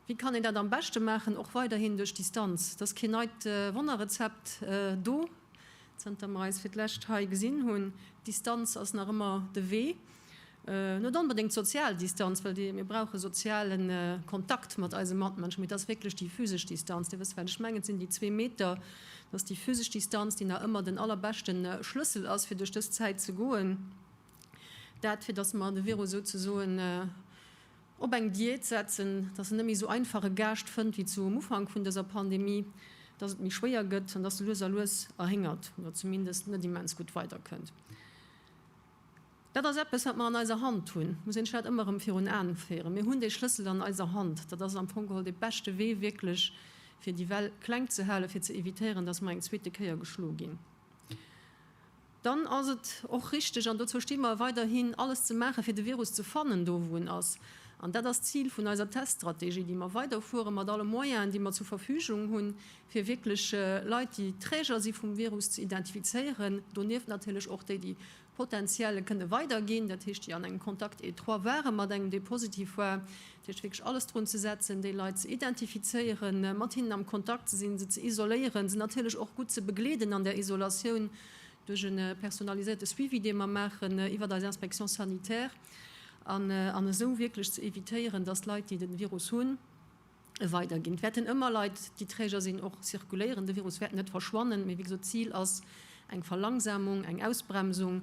Wéi kann een dat am beschte maachen? Och weiderhin duerch Distanz. Et ass keen neit Wonnerrezept do, zanter mer eis fir d'lescht hei gesinn hunn. D'Distanz ass nach ëmmer de Wee. Net onbedéngt d'sozial Distanz, well mir brauche soziale Kontakt mat eise Matmënschen, mee et ass wierklech déi physesch Distanz. Dir wësst, wat ech mengen, et sinn déi zwee Meter. Et ass déi physesch Distanz, déi nach ëmmer den allerbeschte Schlëssel ass, fir duerch dës Zäit ze goen. Dat, fir datt mer de Virus souzesoen op eng Diät setzen, datt en net méi esou einfach e Gaascht fënnt wéi zu um Ufank vun dëser Pandemie, datt et méi schwéier gëtt an datt e lues a lues erhéngert oder zumindest net immens gutt weiderkënnt. Dat ass eppes, wat mer an eiser Hand hunn. Et muss een sech dat ëmmer erëm virun Aen féieren. Mir hunn dee Schlëssel an eiser Hand. Dat ass am Fong geholl dee beschte Wee wierklech, fir déi Well kleng ze halen, fir ze evitéieren, datt mer eng zweete Kéier geschlo ginn. Dann ass et och richteg, an dozou sti mer weiderhin, alles ze maachen, fir de Virus ze fannen, do wou en ass. An dat ass d'Zil vun eiser Teststrategie, déi mer weiderfueren, mat alle Moyenen, déi mer zur Verfügung hunn, fir wierklech Leit, déi Träger si vum Virus, ze identifizéieren. Donieft natierlech och déi, déi potenziell e kënne weiderginn, dat heescht, déi an engem Contact étroit waren mat engem, dee positiv war. Dat heescht wierklech alles drun ze setzen, déi Leit ze identifizéieren, mat hinnen am Kontakt ze sinn, se ze isoléieren, se natierlech och gutt ze begleeden an der Isolatioun duerch e personaliséierte Suivi, dee mer maachen iwwert eis Inspection sanitaire, an esou wierklech ze evitéieren, dass d'Leit, déi de Virus hunn, e weiderginn. Et wäerten ëmmer Leit, déi Träger sinn, och zirkuléieren. De Virus wäert net verschwannen, mee wéi gesot, d'Zil ass eng Verlangsamung, eng Ausbremsung.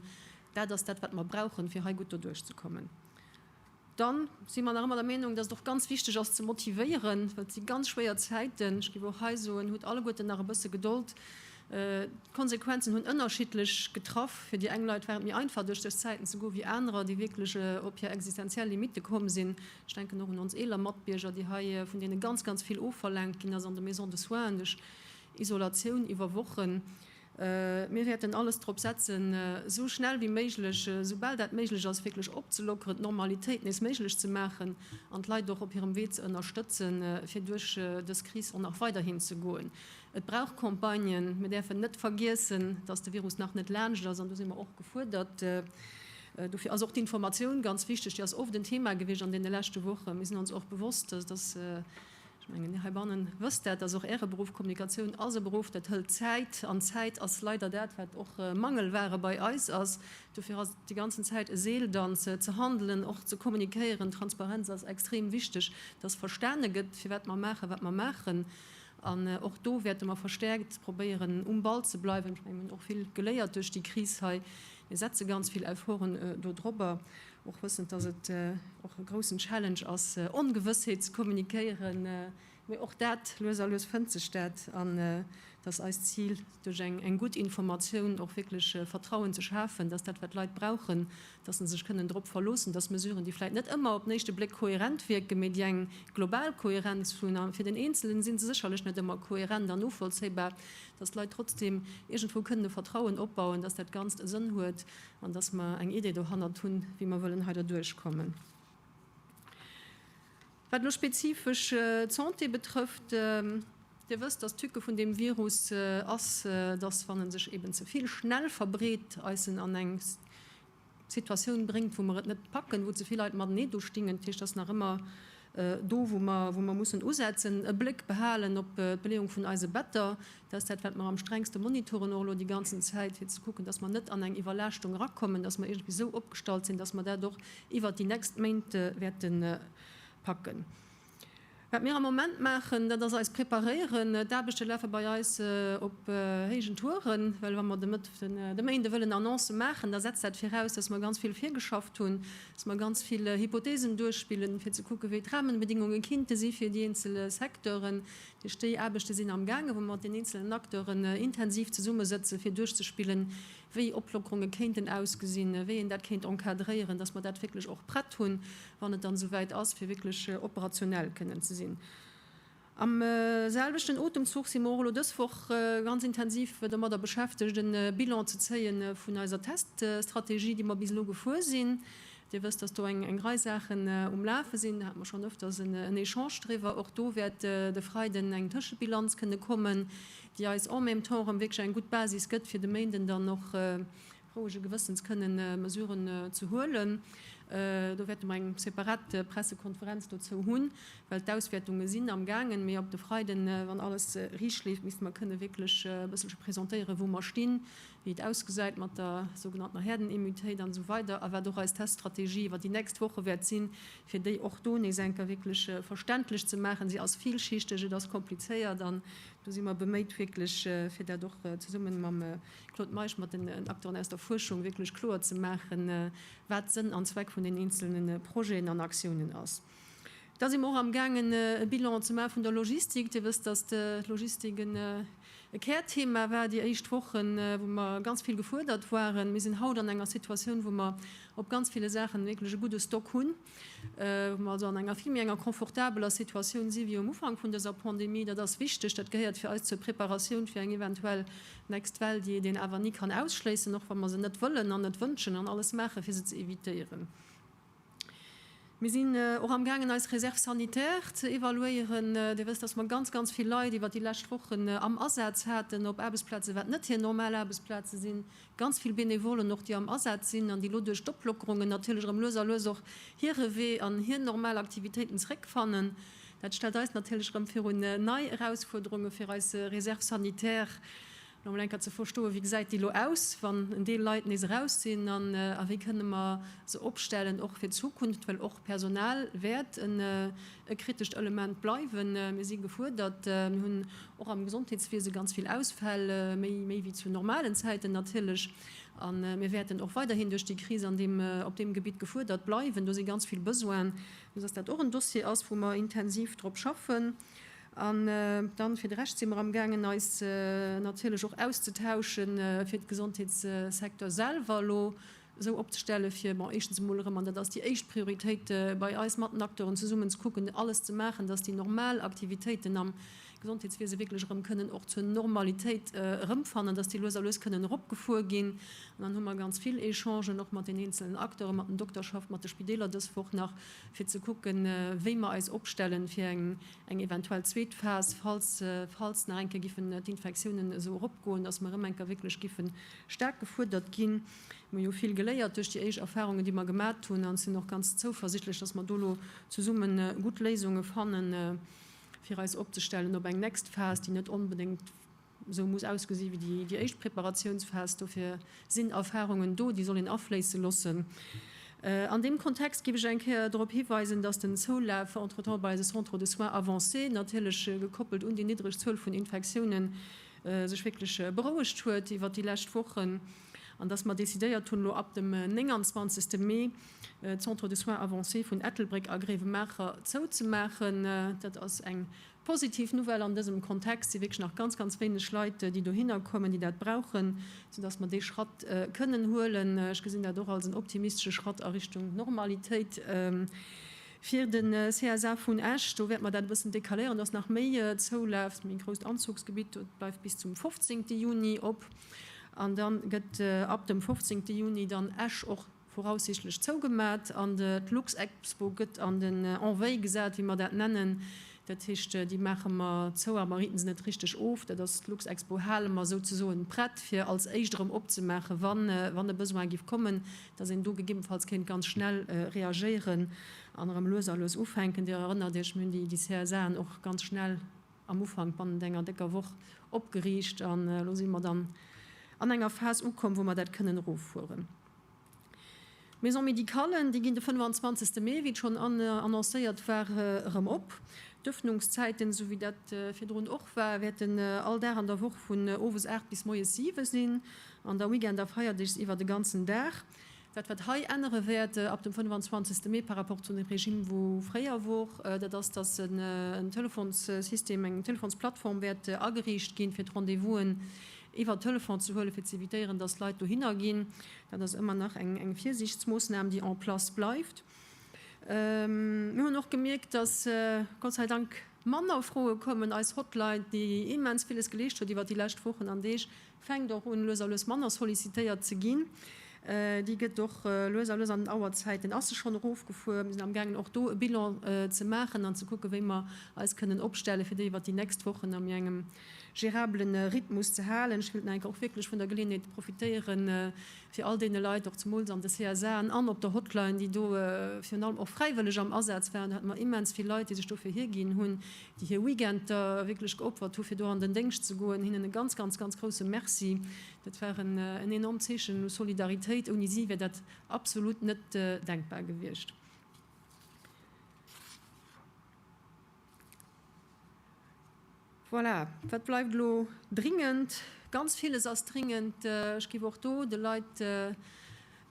Dat ass dat, wat mer brauchen, fir hei gutt doduerchzekommen. Dann si mer nach ëmmer der Meenung, dass et och ganz wichteg ass ze motivéieren, well et si ganz schwéier Zäiten. Ech géif och hei soen, hutt alleguerten nach e bësse Gedold. D'Konsequenzen hunn ënnerschiddlech getraff. Fir déi eng Leit war et méi einfach duerch dës Zäiten ze goen, wéi anerer, déi wierklech op hir existenziell Limitte komm sinn. Ech denken och un ons eeler Matbierger, déi hei, vun deene ganz, ganz vill ofverlaangt ginn ass an de Maisons de soins, duerch Isolatioun iwwer Wochen. Mir wäerten alles drop setzen, esou schnell wéi méiglech, esoubal dat méiglech ass, wierklech opzelockeren, d'Normalitéit nees méiglech ze maachen an d'Leit och op hirem Wee ze ënnerstëtzen, fir duerch dës Kris och nach weiderhin ze goen. Et brauch Campagnen. Mir däerfen net vergiessen, dass de Virus nach net laanscht ass. An do si mer och gefuerdert. Dofir ass och d'Informatioun ganz wichteg. Déi ass oft en Thema gewiescht an deene leschte Wochen. Mir sinn ons och bewosst, dass, dass, Ech mengen, heibannen wësst Där, dass och Äre Beruff, Kommunikatioun ass e Beruff, dat hëlt Zäit, an Zäit ass leider dat, wat och Mangelware bei eis ass. Dofir ass et déi ganzen Zäit e Seeldanz, ze handelen, och ze kommunikéieren. Transparenz ass extrem wichteg, dass verstane gëtt, firwat mer maachen, wat mer maachen. An och do wäerte mer verstäerkt probéieren, um Ball ze bleiwen. Ech mengen, mir hunn och vill geléiert duerch déi Kris hei. Mir setze ganz vill Efforten do drobber. Och wëssend, dass et och e groussen Challenge ass, Ongewëssheet ze kommunikéieren, mee och dat, lues a lues fënnt sech dat. An et ass eist Zil, duerch eng gutt Informatioun och wierklech Vertrauen ze schafen, dass dat, wat d'Leit brauchen, dass se sech kënnen drop verloossen, dass Mesuren, déi vläicht net ëmmer op den éischte Bléck kohärent wierken, mee déi eng global Kohärenz hunn, a fir den Eenzelen si se sécherlech net ëmmer kohärent an novollzéibar, dass d'Leit trotzdeem iergendwou kënnen e Vertrauen opbauen, dass dat Ganzt e Sënn huet An dass mer eng Idee dohannert hunn, wéi mer wëllen hei derduerch kommen. Wat elo spezifesch d'Santé betrëfft, Dir wësst, dass d'Tücke vun deem Virus ass, dass, wann e sech eeben ze vill schnell verbreet, eis en an eng Situatioun bréngt, wou mer et net packen, wou ze vill Leit matenee do stingen. Dat heescht, et ass nach ëmmer do, wou mer mussen usetzen, e Bléck behalen op d'Beleeung vun eise Better. Dat ass dat, wat mer am strengste monitoren, och elo déi ganzen Zäit, fir ze kucken, dass mer net an eng Iwwerlaaschtung erakommen, dass mer iergendwéi esou opgestallt sinn, dass mer dat och iwwert déi nächst Méint wäerte packen. Wat mir am Moment maachen, dat ass eis preparéieren. D'Aarbechte lafe bei eis op héijen Touren, well wa mer de Méinde wëllen Annoncë maachen, da setzt dat viraus, dass mer ganz vill virgeschafft hunn, dass mer ganz vill Hypotheesen duerchspillen, fir ze kucken, wéi d'Rahmenbedingungen kinnte si fir déi eenzel Secteuren, Duerch déi Aarbechte sinn amgaange wou mer mat den eenzelen Acteuren intensiv zesummesëtzen, fir duerchzespillen, wéi Oplockerunge kéinten ausgesinn, wéi een dat kéint encadréieren, dass mer dat wierklech och prett hunn, wann et dann esouwäit ass, fir wierklech operationell kënnen ze sinn. Am selwechten Otemzuch si mer och elo dës Woch ganz intensiv domadder beschäftegt, e Bilan ze zéie vun eiser Teststrategie, déi mer bis elo gefuer sinn, Dir wësst, dass do eng Rei Saachen um Lafe sinn. Do hate mer schonn öfters en Echange driwwer. Och do wäert de Freiden eng Tëschebilanz kënne kommen, déi eis en même temps erëm wierklech eng gutt Basis gëtt, fir de Méinden dann och rouege Gewëssens kënnen Mesuren ze huelen. Do wäerte mer eng separat Pressekonferenz dozou hunn, well d'Auswäertunge sinn am gaangen. Mee op de Freiden, wann alles riicht leeft, misste mer kënne wierklech e bësselche presentéieren, wou mer stinn. wéi et ausgesäit mat der sougenanntener Herdenimmutéit an esou weider a wat och eis Teststrategie iwwer déi nächst Woche wäert sinn, fir déi och do nees eng Kéier wierklech verständlech ze maachen. Si ass villschichteg, et ass komplizéiert an do si mer beméit wierklech, fir dat och zesummen mam Claude Meisch, mat den Acteuren aus der Fuerschung wierklech kloer ze maachen, wat Sënn an Zweck vun den eenzelne Projeten an Aktiounen ass. Da si mer och amgaangen e Bilan ze maache vun der Logistik. Dir wësst, datt d'Logistik e Kärthema war déi éischt Wochen, wou mer ganz vill gefuerdert waren. Mir sinn haut an enger Situatioun, wou mer op ganz ville Saachen wierklech e gudde Stock hunn, wou mer also an enger vill méi enger confortabeler Situatioun si wéi um Ufank vun dëser Pandemie. Dat ass wichteg. Dat gehéiert fir eis zur Preparatioun fir eng eventuell next Well, déi een awer ni kann ausschléissen, och wa mer se net wëllen an net wënschen an alles maache fir se ze evitéieren. Mir sinn och amgaangen eis Réserve sanitaire ze evaluéieren. Dir wësst, dass mer ganz, ganz vill Leit iwwert déi lescht Wochen am Asaz haten op Aarbechtsplazen, wat net hir normal Aarbechtsplaze sinn, ganz vill Benevollen och, déi am Asaz sinn an déi elo duerch d'Oplockerungen natierlech erëm lues a lues och hire Wee an hir normal Aktivitéiten zeréckfannen. Dat stellt eis natierlech erëm virun nei Erausfuerderunge fir eis Réserve sanitaire. Fir emol eng Kéier ze verstoen, wéi gesäit déi elo aus, wann en Deel Leit nees eraus sinn, an a wéi kënne mer se opstellen, och fir d'Zukunft, well och Personal wäert e kritescht Element bleiwen. Mir si gefuerdert. Mir hunn och am Gesondheetswiese ganz vill Ausfäll, méi méi wéi zu normalen Zäiten natierlech, a mir wäerten och weiderhin duerch déi Kris an deem op deem Gebitt gefuerdert bleiwen. Do si ganz vill Besoinen, esou dass dat och en Dossier ass, wou mer intensiv drop schaffen. An dann fir de Rescht si mer am gaangen eis natierlech och auszetauschen, fir de Gesondheetssecteur selwer elo esou opzestellen, fir, bon, éischtens emol erëm, an dat ass déi éischt Prioritéit bei eis, mat den Acteuren zesummen ze kucken, alles ze maachen, datt déi normal Aktivitéiten am Gesondheetswiese wierklech erëm kënnen och zur Normalitéit erëmfannen, datt déi lues a lues kënnen eropgefuer ginn. An dann hu mer ganz vill Echangen och mat den eenzelen Acteuren, mat den Dokterschaft, mat de Spideeler dës Woch nach. fir ze kucken, wéi mer eis opstellen fir eng eventuell zweet Phas, falls nach eng Kéier giffen d'Infektiounen esou eropgoen, dass mer erëm eng Kéier wierklech giffe staark gefuerdert ginn. Mer hu jo vill geléiert duerch déi éischt Erfahrungen, déi mer gemat hunn, an sinn och ganz zouversichtlech, dass mer do elo zesumme gutt Léisunge fanne fir eis opzestellen op eng next Phas, déi net onbedéngt, Esou muss ausgesi wéi déi éischt Preparatiounsphas. Dofir sinn Erfarungen do, déi soll een afléisse loossen. An deem Kontext géif ech eng Kéier drop hiweisen, datt den Zoulaf entretemps bei eise Centres de soins avancés, natierlech gekoppelt un déi niddreg Zuel vun Infektiounen, sech wierklech berouegt huet iwwert déi lescht Wochen an datt mer decidéiert hunn, elo ab dem 29 Mee d'Centres de soins avancés vun Ettelbréck a Gréiwemaacher zouzemaachen. Dat ass eng Positiv Nouvelle an dësem Kontext si wierklech nach ganz, ganz wéineg Leit, déi dohinner kommen, déi dat brauchen, soudass mer dee Schratt kënnen huelen. Ech gesinn dat och als en optimistesche Schratt a Richtung Normalitéit. Fir de CSA vun Esch, do wäerte mer dat e bëssen decaléieren, dass nach méi zoulaaft. Méi grousst Anzuchsgebitt, dat bleift bis zum 15 Juni op. An da gëtt ab dem 15 Juni dann Esch och voraussichtlech zougemat an d'Luxexpo gëtt an den en veille gesat, wéi mer dat nennen. Dat heescht, déi maache mer zou, a mer rite se net richteg of. Dat ass, d'Luxexpo hale mer souzesoen prett, fir als éischt erëm opzemaachen, wann e Besoin géif kommen, dass een do gegebenfalls kéint ganz schnell reagéieren an erëm lues a lues ufänken. Dir erënnert Iech, mir hunn déi CSAen och ganz schnell am Ufank, bannent enger décker Woch, opgeriicht an elo si mer dann an enger Phas ukomm, wou mer dat kënnen eroffueren. D'Maisons médicales, déi ginn de 25 Mee, wéi et schonn annoncéiert war, erëm op. D'Ëffnungszäiten, esou wéi dat virdrun och war, wäerten all Dag an der Woch vun owes 8 bis moies 7 sinn an da Weekend a Feierdeeg iwwer de ganzen Dag. Dat, wat hei ännere wäert ab dem 25 Mee par rapport zu dem Regime, wou fréier wor, dat ass, dass en Telefonsystem, eng Telefonsplattform wäert ageriicht ginn, fir d'Rendez-vous'en iwwer Telefon ze huelen, fir ze évitéieren, dass d'Leit dohinner ginn. Dat ass ëmmer nach eng Virsiichtsmoossnam, déi en place bleift. Mir hunn och gemierkt, dass Gott sei Dank manner Froe kommen. Eis Hotline, déi immens villes geleescht huet iwwer déi lescht Wochen an Deeg, fänkt och un, lues a lues manner sollicitéiert ze ginn. Déi gëtt och lues a lues an den Auerzäiten ass se schonn erofgefuer. Mir sinn amgaangen, och do e Bilan ze maachen an ze kucken, wéi mer eis kënnen opstellen, fir déi iwwer déi nächst Wochen a mir engem gérablen Rhythmus ze halen. Ech wëllt nach eng Kéier och wierklech vun der Geleeënheet profitéieren, fir all deene Leit, och zemools an de CSAen an op der Hotline, déi do virun allem och fräiwëlleg am Asaz waren, do hate mer immens vill Leit, déi sech dofir hierginn hunn, déi hir Weekender wierklech geopfert hu fir do an den Déngscht ze goen, hinnen e ganz, ganz, ganz grousse Merci. Dat war en enormt Zeechen u Solidaritéit. Ouni si wär dat absolut net denkbar gewiescht. Voilà, wat bleift elo? Dringend, ganz villes ass dringend. Ech géif och do de Leit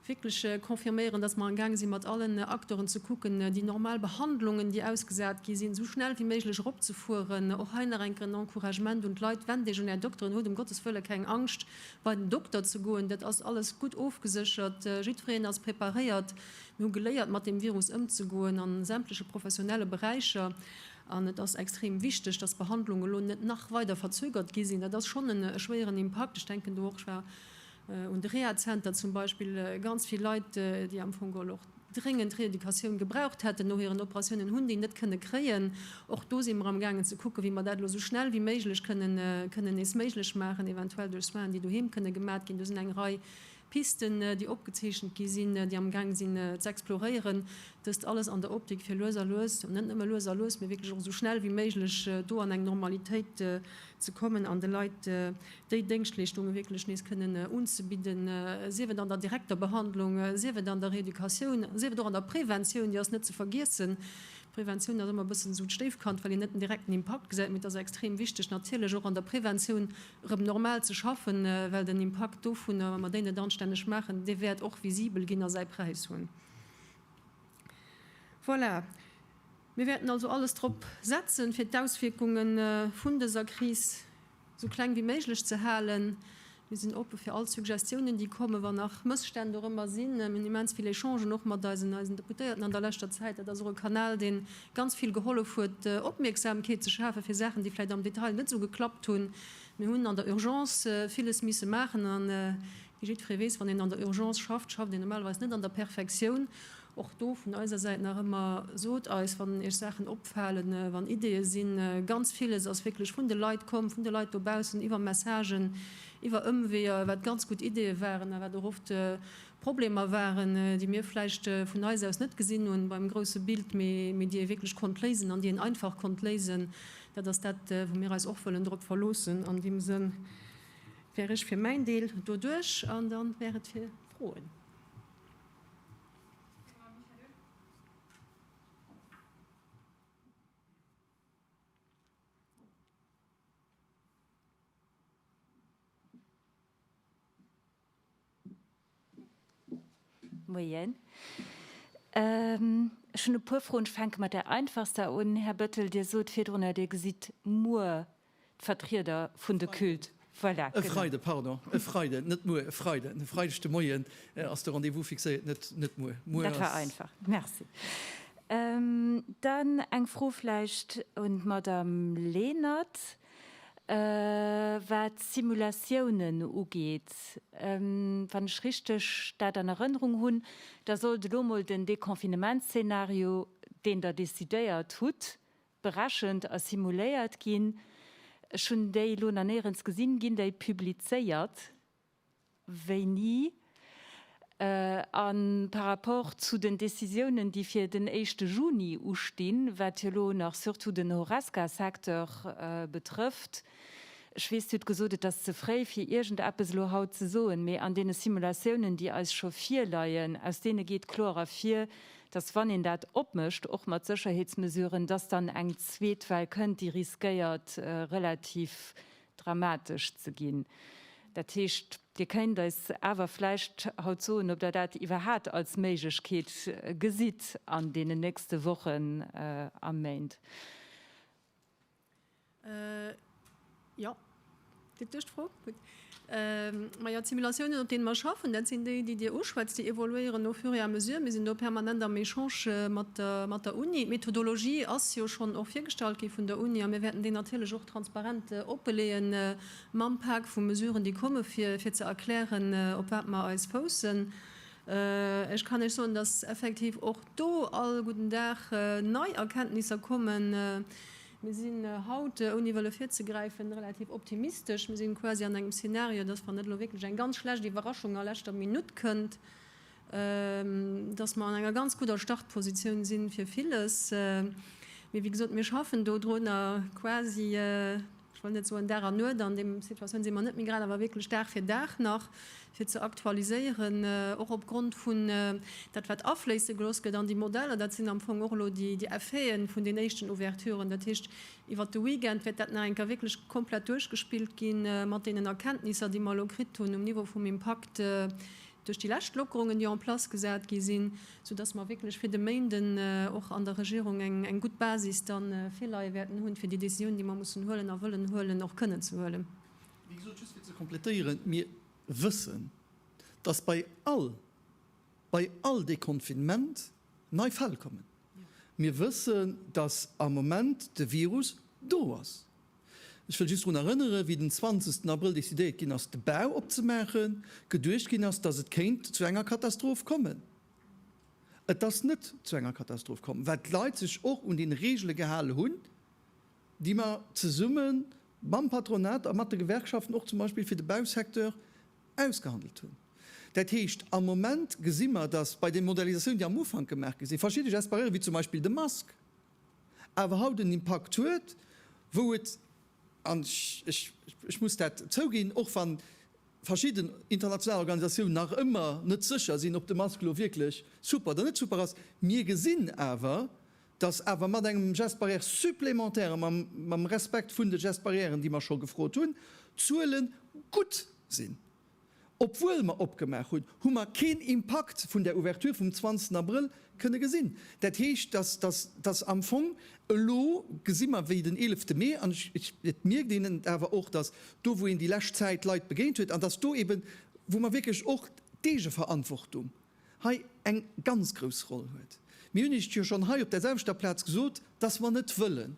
wierklech confirméieren, dass mer amgaang si mat allen Acteuren ze kucken, déi normal Behandlungen, déi ausgesat gi sinn, esou schnell wéi méiglech eropzefueren. Och hei nach eng Kéier en Encouragement un d'Leit, Wennt Iech un Är Dokteren, hutt ëm Gottes wëlle keng Angscht, bei den Dokter ze goen. Dat ass alles gutt ofgeséchert, jiddwereen ass preparéiert. Mir hu geléiert mat deem Virus ëmzegoen a sämtleche professionelle Beräicher an et ass extrem wichteg, datt d'Behandlungen elo net nach weider verzögert gi sinn. Dat ass schonn e schwéieren Impakt. Ech denken do och, ech war un de Rehazenter zum Beispill, ganz vill Leit, déi am Fong geholl och dréngend Reeducatioun gebraucht hätten no hiren Operatiounen, hunn déi net kënne kréien. Och do si mer am gaangen ze kucken, wéi mer dat elo esou schnell wéi méiglech kënnen nees méiglech maachen, eventuell duerch Soinen, déi doheem kënne gemat ginn. Do sinn eng Rei Pisten, déi opgezeechent gi sinn, déi amgaang sinn ze exploréieren, dëst alles an der Optik fir lues a lues, net nëmme lues a lues, mee wierklech och esou schnell wéi méiglech do an eng Normalitéit ze kommen an de Leit déi Déngschtleeschtunge wierklech nees kënnen unzebidden, sief et an der direkter Behandlung, sief et an der Reeducatioun, sief et och an der Preventioun, déi ass net ze vergiessen. D'Preventioun ass ëmmer e bëssen esou d'Stéifkand, well een net den direkten Impakt gesäit, mee et ass extrem wichteg natierlech och an der Preventioun rëm normal ze schaffen, well den Impakt dovunner, wa mer déi net anstänneg maachen, dee wäert och visibel ginn a säi Präis hunn. Voilà, mir wäerten also alles drop setzen, fir d'Auswierkunge vun dëser Kris esou kleng wéi méiglech ze halen. Mir sinn oppe fir all Suggestiounen, déi kommen, wa nach Mësstänn dorëmmer sinn. Mir hunn immens vill Echangen och mat eisen Deputéierten an der leschter Zäit. Dat ass och e Kanal, dee ganz vill gehollef huet, Opmierksamkeet ze schafen fir Saachen, déi vläicht am Detail net esou geklappt hunn. Mir hunn an der Urgence villes misse maachen a wéi jiddweree weess, wann een an der Urgence schafft, schafft een normalerweis net an der Perfektioun. Och do vun eiser Säit nach ëmmer, Sot eis, wann Iech Saachen opfalen, wann Ideeë sinn. Ganz villes ass wierklech vun de Leit komm, vun de Leit dobaussen, iwwer Messagen, iwwer Ëmweeër, wat ganz gutt Ideeë waren a wat och oft Problemer waren, déi mir vläicht vun eis aus net gesinn hunn beim grousse Bild, mee déi ee wierklech konnt léisen an déi een einfach konnt léisen. Dat ass dat, wou mir eis och wëllen drop verloossen. An deem Sënn wär ech fir mäin Deel do duerch an da wär et fir Froen. Moien. Ech hunn e puer Froen. Ech fänke mat där einfachster un. Här Bettel, Dir sot virdrun, datt Dir gesitt muer d'Vertrieder vun de Culte. Voilà. E Freide, pardon. E Freiden, net muer, e Freiden. E Freideg de Moien ass de Rendez-vous fixéiert, net, net muer. Muer ass. Dat war einfach. Merci. Dann eng Fro vläicht un d'Madame Lenert. Wat d'Simulatiounen ugeet, wann ech richteg dat an Erënnerung hunn, da sollt elo mol den Deconfinementsszenario, deen Der decidéiert hutt, berechent a simuléiert ginn. Ech hunn déi elo nach néierens gesinn. Ginn déi publizéiert? Wéini? A par rapport zu den Décisiounen, déi fir den éischte Juni ustinn, wat jo elo nach surtout den Horesca-Secteur betrëfft, ech weess, Dir hutt gesot, et ass ze fréi fir iergendeppes elo haut ze soen, mee an deene Simulatiounen, déi eis scho virleien, aus deene geet kloer ervir, datt wann een dat opmécht, och mat Sécherheetsmesuren, datt dann eng zweet Well kënnt, déi riskéiert relativ dramatesch ze ginn. Dat heescht, Dir kéint eis awer vläicht haut soen, ob Der dat iwwerhat als Méiglechkeet gesitt an deenen nächste Wochen a Méint? Jo, geet duerch d'Fro. Gutt. Majo, d'Simulatiounen, op deene mer schaffen, dat sinn déi, déi Dir uschwätzt. Déi évoluéieren au fur et à mesure. Mir sinn do permanent am Echange mat der Uni. D'Methodologie ass jo schonn och virgestallt gi vun der Uni a mir wäerten déi natierlech och. Transparent opleeën mam Pak vu Mesuren, déi komme fir fir ze erklären, op wat mer eis foussen. Ech kann Iech soen, dass effektiv och do all gudden Dag nei Erkenntnisser kommen. Mir sinn haut, ouni wëlle virzegräifen, relativ optimistesch. Mir si quasi an engem Szenario, dass, wann net elo wierklech eng ganz schlecht Iwwerraschung a leschter Minutt kënnt, dass mer an enger ganz gudder Startpositioun sinn fir villes. Mee wéi gesot, mir schaffen dodrunner quasi, ech wëll net soen Dag an Nuet, an deem Situatioun si mer net méi grad, awer wierklech Dag fir Dag nach fir ze aktualiséieren, och opgrond vun dat wat afléisse gelooss gëtt an déi Modeller. Dat sinn am Fong och elo déi Effeten vun den éischten Ouverturen. Dat heescht, iwwert de Weekend wäert dat nach eng Kéier wierklech komplett duerchgespillt gi mat deenen Erkenntnisser, déi mer elo kritt hunn um Niveau vum Impakt, duerch déi lescht Lockerungen, déi en place gesat gi sinn, soudass mer wierklech fir de Méinden och an der Regierung eng gutt Basis da virleie wäerten hunn, fir déi Décisionen, déi mer mussen huelen a wëllen huelen, och kënnen ze huelen. Wéi gesot, just fir ze complétéieren, Mir wëssen, dass bei all, bei all Deconfinement nei Fäll kommen. Mir wëssen, dass am Moment de Virus do ass. Ech wëll just drun erënneren, wéi den 20 Abrëll decidéiert ginn ass, de Bau opzemaachen, geduecht ginn ass, datt et kéint zu enger Katastroph kommen. Et ass net zu enger Katastroph komm, well d'Leit sech och un déi Regele gehale hunn, déi mer zesumme mam Patronat a mat de Gewerkschaften och zum Beispill fir de Bausecteur ausgehandelt hunn. Dat heescht, am Moment gesi mer, datt bei de Modernisatioune, déi am Ufank gemaach gi sinn, verschidde Gespareure wéi zum Beispill de Mask, awer haut en Impakt huet, wou et, an ech muss dat zouginn, och wann verschidden international Organisatiounen nach ëmmer net sécher sinn, ob de Mask elo wierklech super oder net super ass, mir gesinn awer, dass awer mat engem Geste barrière supplémentaire a mam Respekt vun de Gestes barrièren, déi mer scho gefrot hunn, d'Zuele gutt sinn. Obwuel mer opgemaach hunn, hu mer keen Impakt vun der Ouverture vum 20 Abrëll kënne gesinn. Dat heescht, dass, dass am Fong elo gesi mer, wéi den 11 Mee, an ech, et mierkt een et awer och, dass do wou een déi lescht Zäit Leit begéint huet, an dass do eeben, wou mer wierklech och d'Eegeverantwortung hei eng ganz grouss Roll huet. Mir hunn Iech jo schonn hei op där selwechter Plaz gesot, dass mer net wëllen,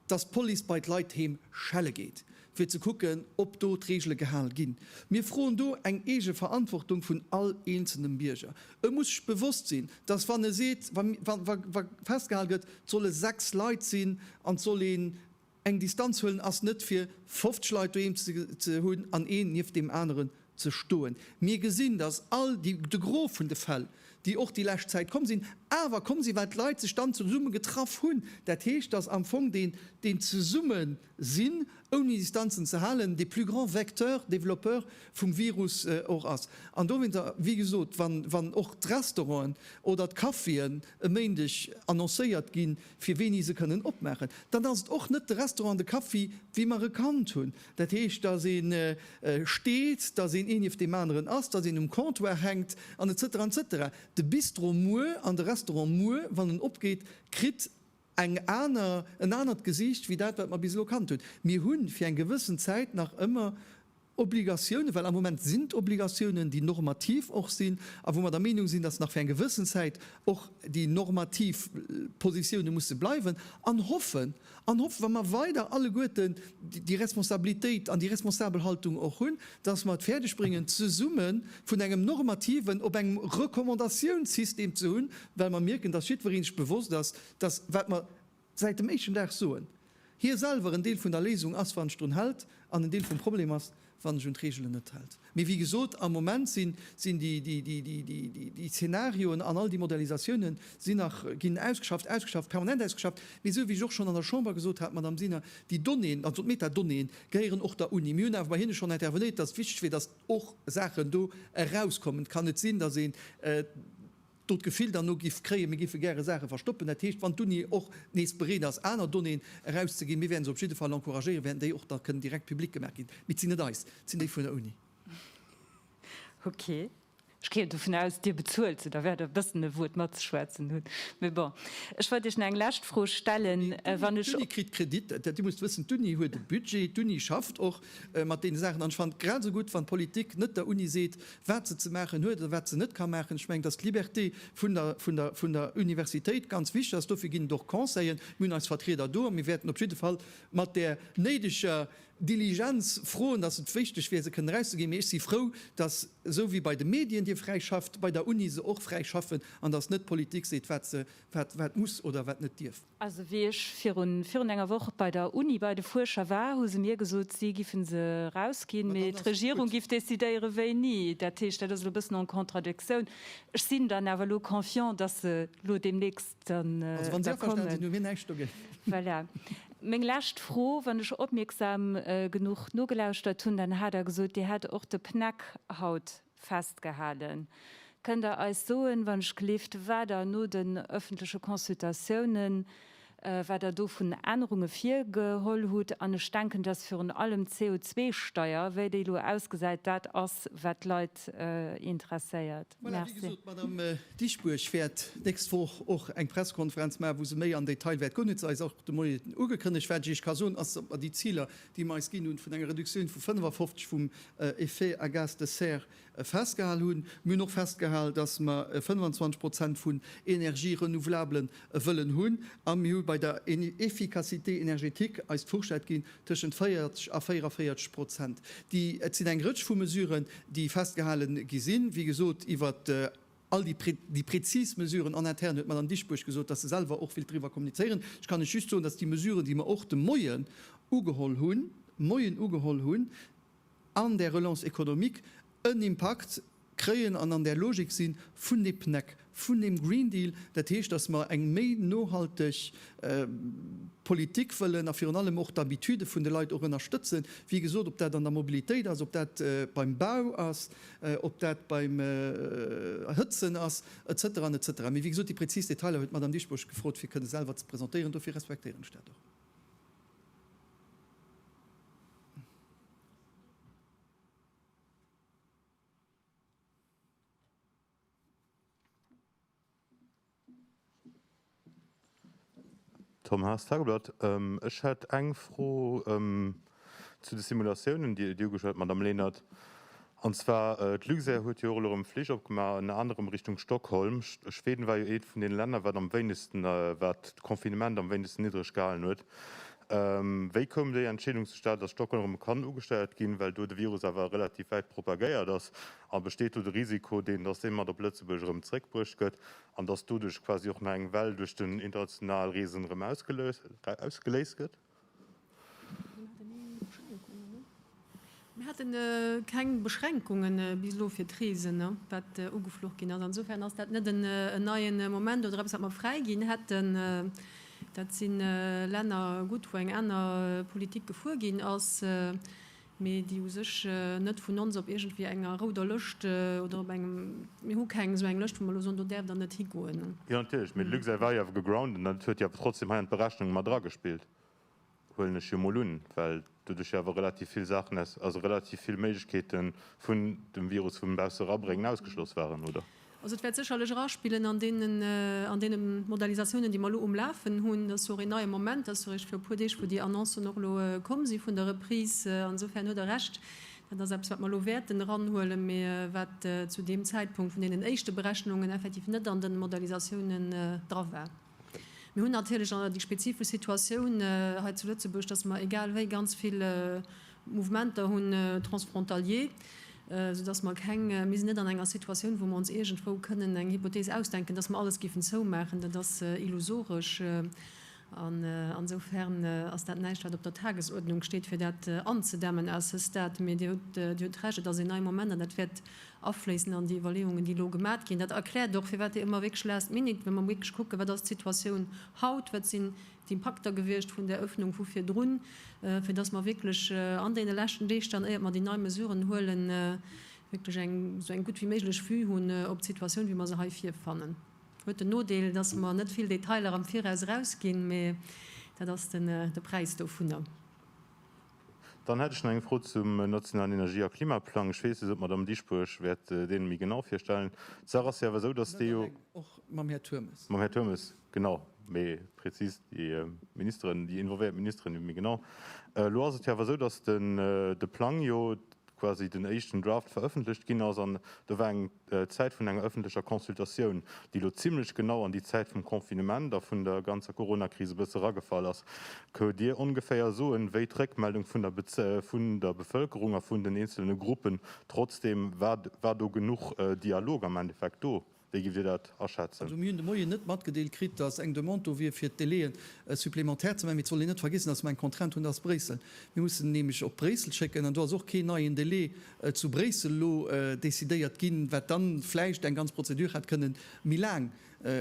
Dass d'Police bei d'Leit heem schelle geet, fir ze kucken, ob do d'Reegele gehal ginn. Mir froen do eng eege Verantwortung vun all eenzelnem Bierger. E muss sech bewosst sinn, dass wann e seet, wa festgehal gëtt, 't solle 6 Leit sinn an 't soll een eng Distanz huelen, ass net fir 50 Leit doheem ze hunn an een nieft deem aneren ze stoen. Mir gesinn, dass all déi, de Gros vun de Fäll, déi och déi lescht Zäit komm sinn, awer komm sinn, well d'Leit sech dann zesumme getraff hunn. Dat heescht, dass am Fong deen, deen Zesummesinn, ouni Distanzen ze halen, de plus grand Vecteur, Développeur vum Virus och ass. An dowéinter, wéi gesot, wann, wann och d'Restauranten oder d'Caféen e Méindeg annoncéiert ginn, fir wéini se kënnen opmaachen, dann ass et och net de Restaurant an de Café, wéi mer e kannt hunn, Dat heescht, dass ee steet, dass een ee nieft deem aneren ass, dass een um Comptoir hänkt an et cetera, et cetera. De Bistro muer an de Restaurant muer, wann en opgeet, kritt eng aner, en anert Gesiicht wéi dat, wat mer bis elo kannt hunn. Mir hu fir eng gewëssen Zäit nach ëmmer Obligatiounen, well am Moment sinn d'Obligatiounen, déi normativ och sinn a wou mer der Meenung sinn, dass nach fir eng gewëssen Zäit och déi normativ Positioune musse bleiwen, an hoffen, An hoffen, wa mer weider alleguerten déi Responsabilitéit an déi responsabel Haltung och hunn, dass mer et fäerdeg bréngen, zesumme vun engem normativen op engem Recommandatiounssystem ze hunn, well mer mierken, dass jiddweree sech bewosst ass, dass, wat mer säit dem éischten Dag soen, hie selwer en Deel vun der Léisung ass, wann en sech drun hält, an en Deel vum Problem ass, wann ech un d'Reegelen net hält. Mee wéi gesot, am Moment sinn déi Zenarioen an all déi Modellisatiounen sinn nach, ginn ausgeschafft, ausgeschafft, permanent ausgeschafft. Mee esou wéi ech och schonn an der Chamber gesot hat, Madame Sinner, déi Donnéeën, also d'Metadonnéeën, gehéieren och der Uni. Mir hunn awer bei hinne schonn intervenéiert, datt et wichteg wier, datt och Saachen do erauskommen. Et kann net sinn, datt een do d'Gefill derno giff kréien, mir giffe gäre Saache verstoppen, dat heescht, wann d'Uni och nees bereet ass aner Donnéeën erauszeginn, mir wäerten se op jidde Fall encouragéieren, wäerten déi och da kënnen direkt public gemaach ginn, mee et sinn net eis, et sinn déi vun der Uni. Okay. Ech géing dovun aus, Dir bezuelt se, da wäert Der e bëssen e Wuert matzeschwätzen hunn, mee bon. Ech wollt Iech nach eng lescht Fro stellen, wann ech. D'Uni kritt Kredit, Dir musst wëssen, d'Uni huet e Budget, d'Uni schafft och mat deene Saachen an ech fannen et grad esou gutt, wann d'Politik net der Uni seet, wat se ze maachen huet oder wat se net ka maachen. Ech mengen, dass d'Liberté vun der Universitéit ganz wichtig ass. Dofir ginn et och Conseiller. Mir hunn eis Vertrieder do a mir wäerten op jidde Fall mat där néideger Diligenz froen, dass et wichteg wier, se kënnen erauszeginn. Mee ech si frou, dass, esou wéi bei de Medien, Dir fräi schafft, bei der Uni se och fräi schaffen an dass net d'Politik seet, wat muss oder wat net dierf. Also wéi ech virun virun enger Woch bei der Uni bei de Fuerscher war, hu se mir gesot, si giffen se erausginn, mee d'Regierung giff decidéieren, wéini. Dat heescht, dat ass elo e bëssen en contradictioun. Ech sinn dann awer elo confiant, dass se elo deemnächst dann da kommen. Also wa si averstanen sinn, hu mir näischt dogéint. Voilà. Meng lescht Fro, Wann ech opmierksam genuch nogelauschtert hunn, dann hat Der gesot, Dir hätt och de PNEC haut Festgehalen. Kënnt Der eis soen, wann ech gleeft, wat Der no den öffentleche Consultatiounen, wat Der do vun Ännerunge virgeholl hutt? An ech denken, dass virun allem d'CO2-Steuer, wéi déi elo ausgesäit, dat ass, wat d'Leit interesséiert. Voilà, wéi gesot, d'Madame Dieschbourg wäert d'nächst Woch och eng Pressekonferenz maachen, wou se méi am Detail wäert goen, huet se eis och de Moien ugekënnegt. Wat ech Iech ka soen, ass, datt mer déi Ziler déi mer eis ginn hunn, vun enger Reduktioun vu 55 vum Effet à gaz de serre festgehal hunn. Mir hunn och festgehal, dass mer 25 Prozent vun Energië renouvelablen wëllen hunn. A mir hu bei der Efficacité énergétique eis d'Fourchette ginn tëschent 40 a 44 Prozent. Et sinn eng Rëtsch vu Mesuren, déi festgehale gi sinn, wéi gesot iwwert All déi prezis Mesuren en interne huet d'Madame Dieschbourg gesot, dass se selwer och wëllt driwwer kommunizéieren. Ech kann lech just soen, dass déi Mesuren, déi mer och de Moien ugeholl hunn, Moien ugeholl hunn, an där Relance économique en Impakt kréien an an där Logik si vun de PNEC, vun deem Green Deal. Dat heescht, dass mer eng méi nohalteg Politik wëllen a virun allem och d'Habitude vun de Leit och ënnerstëtzen, wéi gesot, ob dat an der Mobilitéit ass, ob dat beim Bau ass, ob dat beim Erhëtzen ass, etc. Etc. Mee wéi gesot, déi präzis Detailer huet d'Madame Dieschbourg gefrot, fir kënne selwer ze presentéieren. Dofir respektéieren ech dat och. Tom Haas, Tageblatt, Ech hätt eng Fro zu de Simulatiounen, déi Dir ugeschwat hutt, Madamm Lenert. An zwar, d'Luxair huet jo och elo erëm Flich opgemaach, ënner anerem Richtung Stockholm. Schweden war jo eent vun deene Länner, wat am wéinegsten, wat d'Confinement am wéinegsten niddreg gehalen huet. Wéi koum déi Entscheedung zustad, datt Stockholm erëm kann ugesteiert ginn, well do de Virus awer relativ wäit propagéiert ass? A besteet do de Risiko, deen, dass dee mat op Lëtzebuerg erëm zréckbruecht gëtt an dass doduerch quasi och nach eng Well duerch den international Reesen erëm ausgeléist gëtt? Mir haten keng Beschränkungen bis elo fir d'Reesen, wat ugefluch ginn ass. Insofern ass dat net en neien Moment oder eppes, wat mer fräiginn hätten. Dat si Länner gutt, wou eng aner Politik gefuer ginn ass. mee déi u sech net vun ons op iergendwéi enger rouder Lëscht oder op engem, mir hu keng esou eng Lëscht, wou mer elo soen, do däerft Der net higoen. Jo, natierlech, mee de Luxair war jo awer gegroundet an dat huet jo awer trotzdem hei an d'Berechnung mat eragespillt, huelen ech jo mol un, well do duerch jo awer relativ vill Saachen aus, also relativ vill Méiglechkeete vun dem Virus vum Bausse erabréngen ausgeschloss waren, oder? Also et wäert sécherlech eraspillen an deene Modalisatiounen, déi mer elo um Lafen hunn. Dat ass jo och een neie Moment. Dat ass jo eréischt viru e puer Deeg, wou déi Annoncen och elo komm si vun der Reprise. Insofern huet Der Recht, dat ass eppes, wat mer elo wäerten eranhuelen, mä wat zu deem Zäitpunkt vun deenen éischte Berechnungen effektiv net an den Modalisatiounen dra war. Mir hunn natierlech déi spezifesch Situatioun hei zu Lëtzebuerg, dass mer egal wéi ganz vill Mouvementer hunn, transfrontalier, soudass mer keng, mir sinn net an enger Situatioun, wou mer ons iergendwou kënnen eng Hypothees ausdenken, dass mer alles géifen zoumaachen. Dat ass illusoresch. An esoufer'n ass dat näischt, wat op der Tagesuerdnung steet, fir dat anzedämmen à ce stade. Mee Dir hutt Recht, et ass een nei Moment an dat wäert afléissen an déi Iwwerleeungen, déi elo gemat ginn. Dat erkläert och, firwat ëmmer wierklech last minute, wa mer wierklech kucken, wat ass d'Situatioun haut, wat sinn d'Impakter gewiescht vun där Öffnung vu virdrun, fir dass mer wierklech an deene leschten Deeg dann, éiert mer déi nei Mesuren huelen, wierklech eng esou eng gutt wéi méiglech Vue hunn op d'Situatioun, wéi mer se hei virfannen. Huet den Nodeel, dass mer net vill Detailer am Viraus erausginn, mä dat ass de Präis dovunner. Dann hätt ech nach eng Fro zum nationalen Energie a Klimaplang. Ech weess net, ob d'Madamm Dieschbourg wäert dee méi genau virstellen. D'Saach ass jo awer esou, datt dee jo. Och mam Här Turmes. Mam Här Turmes, genau. Méi prezis déi Ministeren, déi involvéiert Ministeren, déi méi genau. Elo ass et jo awer esou, datt de Plang jo, quasi den éischten Draft verëffentlecht ginn ass, an do war eng Zäit vun enger ëffentlecher Consultatioun, déi elo zimlech genau an déi Zäit vum Confinement a vun der ganzer Coronakris e bësse eragefall ass. Këunt Dir ongeféier soen, wéi d'Réckmeldung vun der vun der Bevëlkerung a vun den eenzelne Gruppen, trotzdeem, war war do genuch Dialog am Endeffekt do? Wéi giff Dir dat aschätzen? Also mir hunn de Moien net matgedeelt kritt, datt eng Demande do wier fir d'Délai'en supplémentaires ze maachen. Mee et soll een net vergiessen, datt mer eng Contrainte hunn, datt Bréissel, mir mussen nämlech op Bréissel schécken an do ass och keen neien Délai zu Bréissel elo décidéiert ginn, wat dann vläicht eng ganz Prozedur hätt kënnen méi laang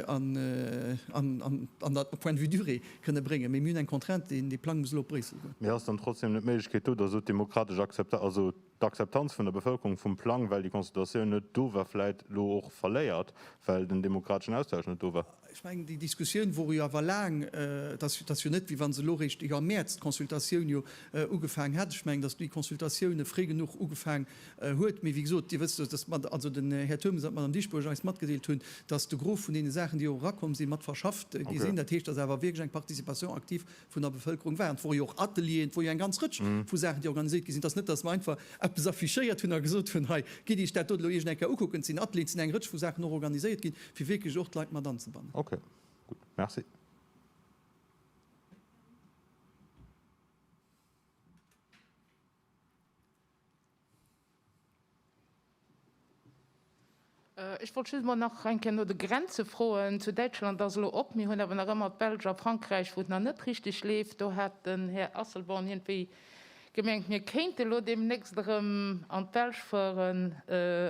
an der, au point de vue durée, kënnen bréngen. Mee mir hunn eng Contrainte, dee Plang muss elo op Bréissel goen. Mee ass dann trotzdem net d'Méiglechkeet do, datt elo d'demokratesch Akzepta, also d'Akzeptanz vun der Bevëlkerung vum Plang, well déi Consultatioun net do war, vläit elo och verléiert, well den demokrateschen Austausch net do war. Ech mengen, déi Diskussioun wor jo awer laang. Et ass jo net, wéi wa se elo réischt iwwer Mäerz d'Consultatioun jo ugefaangen hätt. Ech mengen, datt déi Consultatioun fréi genuch ugefaangen huet. Mee wéi gesot, Dir wësst, datt d'Mad, also den Här Turmes an d'Madame Dieschbourg eis matgedeelt hunn, datt de Gros vun deene Saachen, déi och erakomm sinn, mat verschafft gi sinn. Dat heescht, datt awer wierklech eng Participation active vun der Bevëlkerung waren. Et wore jo och Atelieren, et wor jo eng ganz Rëtsch vu Saachen, déi organiséiert gi sinn. Et ass net, datt mer einfach eppes affichéiert hunn a gesot hunn, hei, gitt Iech dat do elo iergend eng Kéier ukucken. Et sinn Atelieren, et sinn eng Rëtsch vu Saachen och organiséiert ginn, fir wierklech och d'Leit mat anzebannen. Ok, gutt. Merci. Ech wollt just emol nach eng Kéier no de Grenze froen. Zu Däitschland ass elo op. Mir hunn awer nach ëmmer d'Belsch a Frankräich, wou et nach net richteg leeft. Do hat den Här Asselborn iergendwéi gemengt, mir kéinte elo deemnächst erëm an d'Belsch fueren.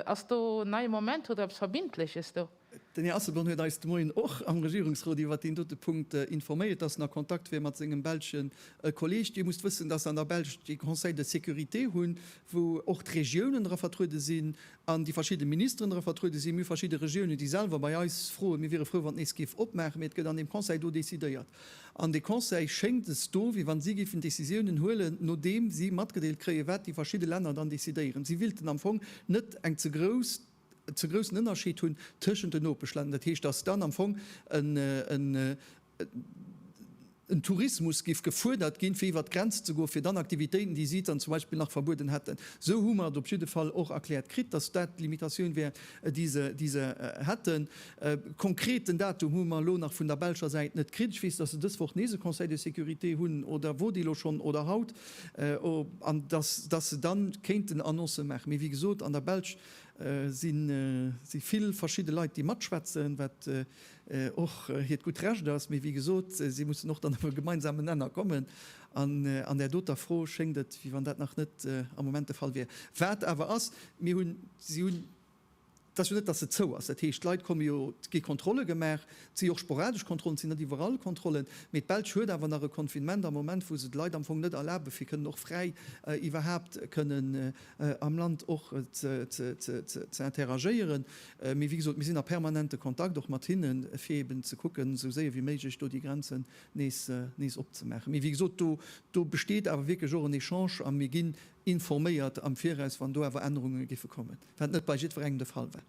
Ass do neie Moment? Hutt Der eppes Verbindleches do? Den Här Asselborn huet eis de Moien och am Regierungsrot iwwert deen dote Punkt informéiert, dass en a Kontakt wier mat sengem belsche Kolleeg. Dir musst wëssen, dass se an der Belsch dee Conseil de sécurité hunn, wou och d'Regiounen dra vertruede sinn an déi verschidde Ministeren dra vertruede sinn. Mir hu verschidde Regiounen, déi selwer bei eis froen. Mir wiere frou, wann et nees géif opmaachen, mee et gëtt an deem Conseil do decidéiert. An dee Conseil schéngt es do, wéi wann si géifen Décisiounen huelen, nodeem si matgedeelt kréien, wat déi verschidde Länner dann decidéieren. Si willten am Fong net eng ze grouss. ze groussen Ënnerscheed hunn tëschent den Nopeschlänner, dat heescht, dass dann am Fong en Tourismus géif gefuerdert ginn, fir iwwert d'Grenz ze goen, fir dann Aktivitéiten, déi si dann zum Beispill nach verbueden hätten, esou hu mer et op jidde Fall och erkläert kritt, dass dat d'Limitatioun wär, déi se hätten. E konkreten Datum hu mer elo nach vun der belscher Säit net kritt. Ech weess, dass se dës Woch nees e Conseil de sécurité hunn, oder wor dee elo schonn, oder haut, an dass se da kéinten Annoncë maachen. Mee wéi gesot, an der Belsch Si si vill verschidde Leit, déi matschwätzen, wat och hiert gutt Recht ass, mee wéi gesot, si mussen och dann op e gemeinsamen Nenner kommen. An an där doter Fro schéngt et, wéi wann dat nach net am Moment de Fall wier. Wat awer ass, mir hunn, si hunn, et ass jo net, datt se zou ass, dat heescht, d'Leit komme jo, et gi Kontrolle gemaach, et si jo och sporadesch Kontrollen, et sinn net iwwerall Kontrollen, mee d'Belsch huet awer nach e Confinement am Moment, wou se d'Leit am Fong net erlabe fir kënnen och fräi iwwerhaapt kënnen am Land och ze interagéieren. Mee wéi gesot, mir sinn a permanente Kontakt och mat hinne fir eeben ze kucken, esou séier wéi méiglech do déi Grenzen nees opzemaachen. Mee wéi gesot, do besteet awer wierklech och en Echange a mir ginn informéiert am Viraus, wann do awer Ännerunge géife kommen, wat net bei jiddwerengem de Fall war.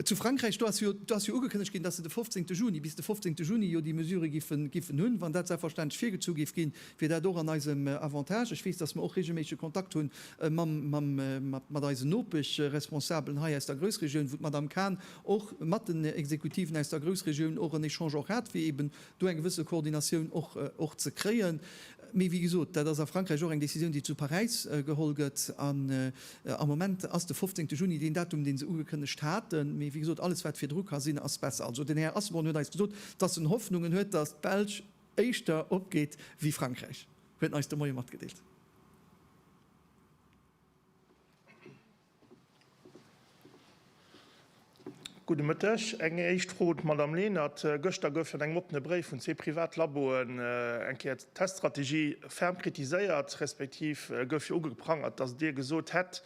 Zu Frankräich, do ass jo ugekënnegt ginn, dass se de 15 Juni, bis de 15 Juni jo déi Mesure giffen hunn. Wann dat selbstverständlech virgezu géif ginn, wier dat och an eisem Avantage. Ech weess, dass mer och reegelméissege Kontakt hu mat eisen Nopeschresponsabelen hei aus der Groussregioun, wou d'Madame Cahn och mat den Exekutiven aus der Groussregioun och en Echange och hat, fir eeben do eng gewësse Koordinatioun och ze kréien. Mee wéi gesot, dat ass a Frankräich och eng Decisioun, déi zu Paräis geholl gëtt. An am Moment ass de 15 Juni deen Datum, dee se ugekënnegt haten. Mee wéi gesot, alles wat virdru ka sinn, ass besser. Also den Här Asselborn huet eis gesot, dass en Hoffnungen huet, dass d'Belsch éischter opgeet wéi Frankräich, huet en eis de Moie matgedeelt. Gudde Mëtteg. Eng éischt Fro un d'Madamm Lenert. Gëschter gouf jo an engem oppene Bréif vun zwee Privatlaboen eng Kéier d'Teststrategie ferm kritiséiert, respektiv gouf jo ugeprangert, datt Dir gesot hätt,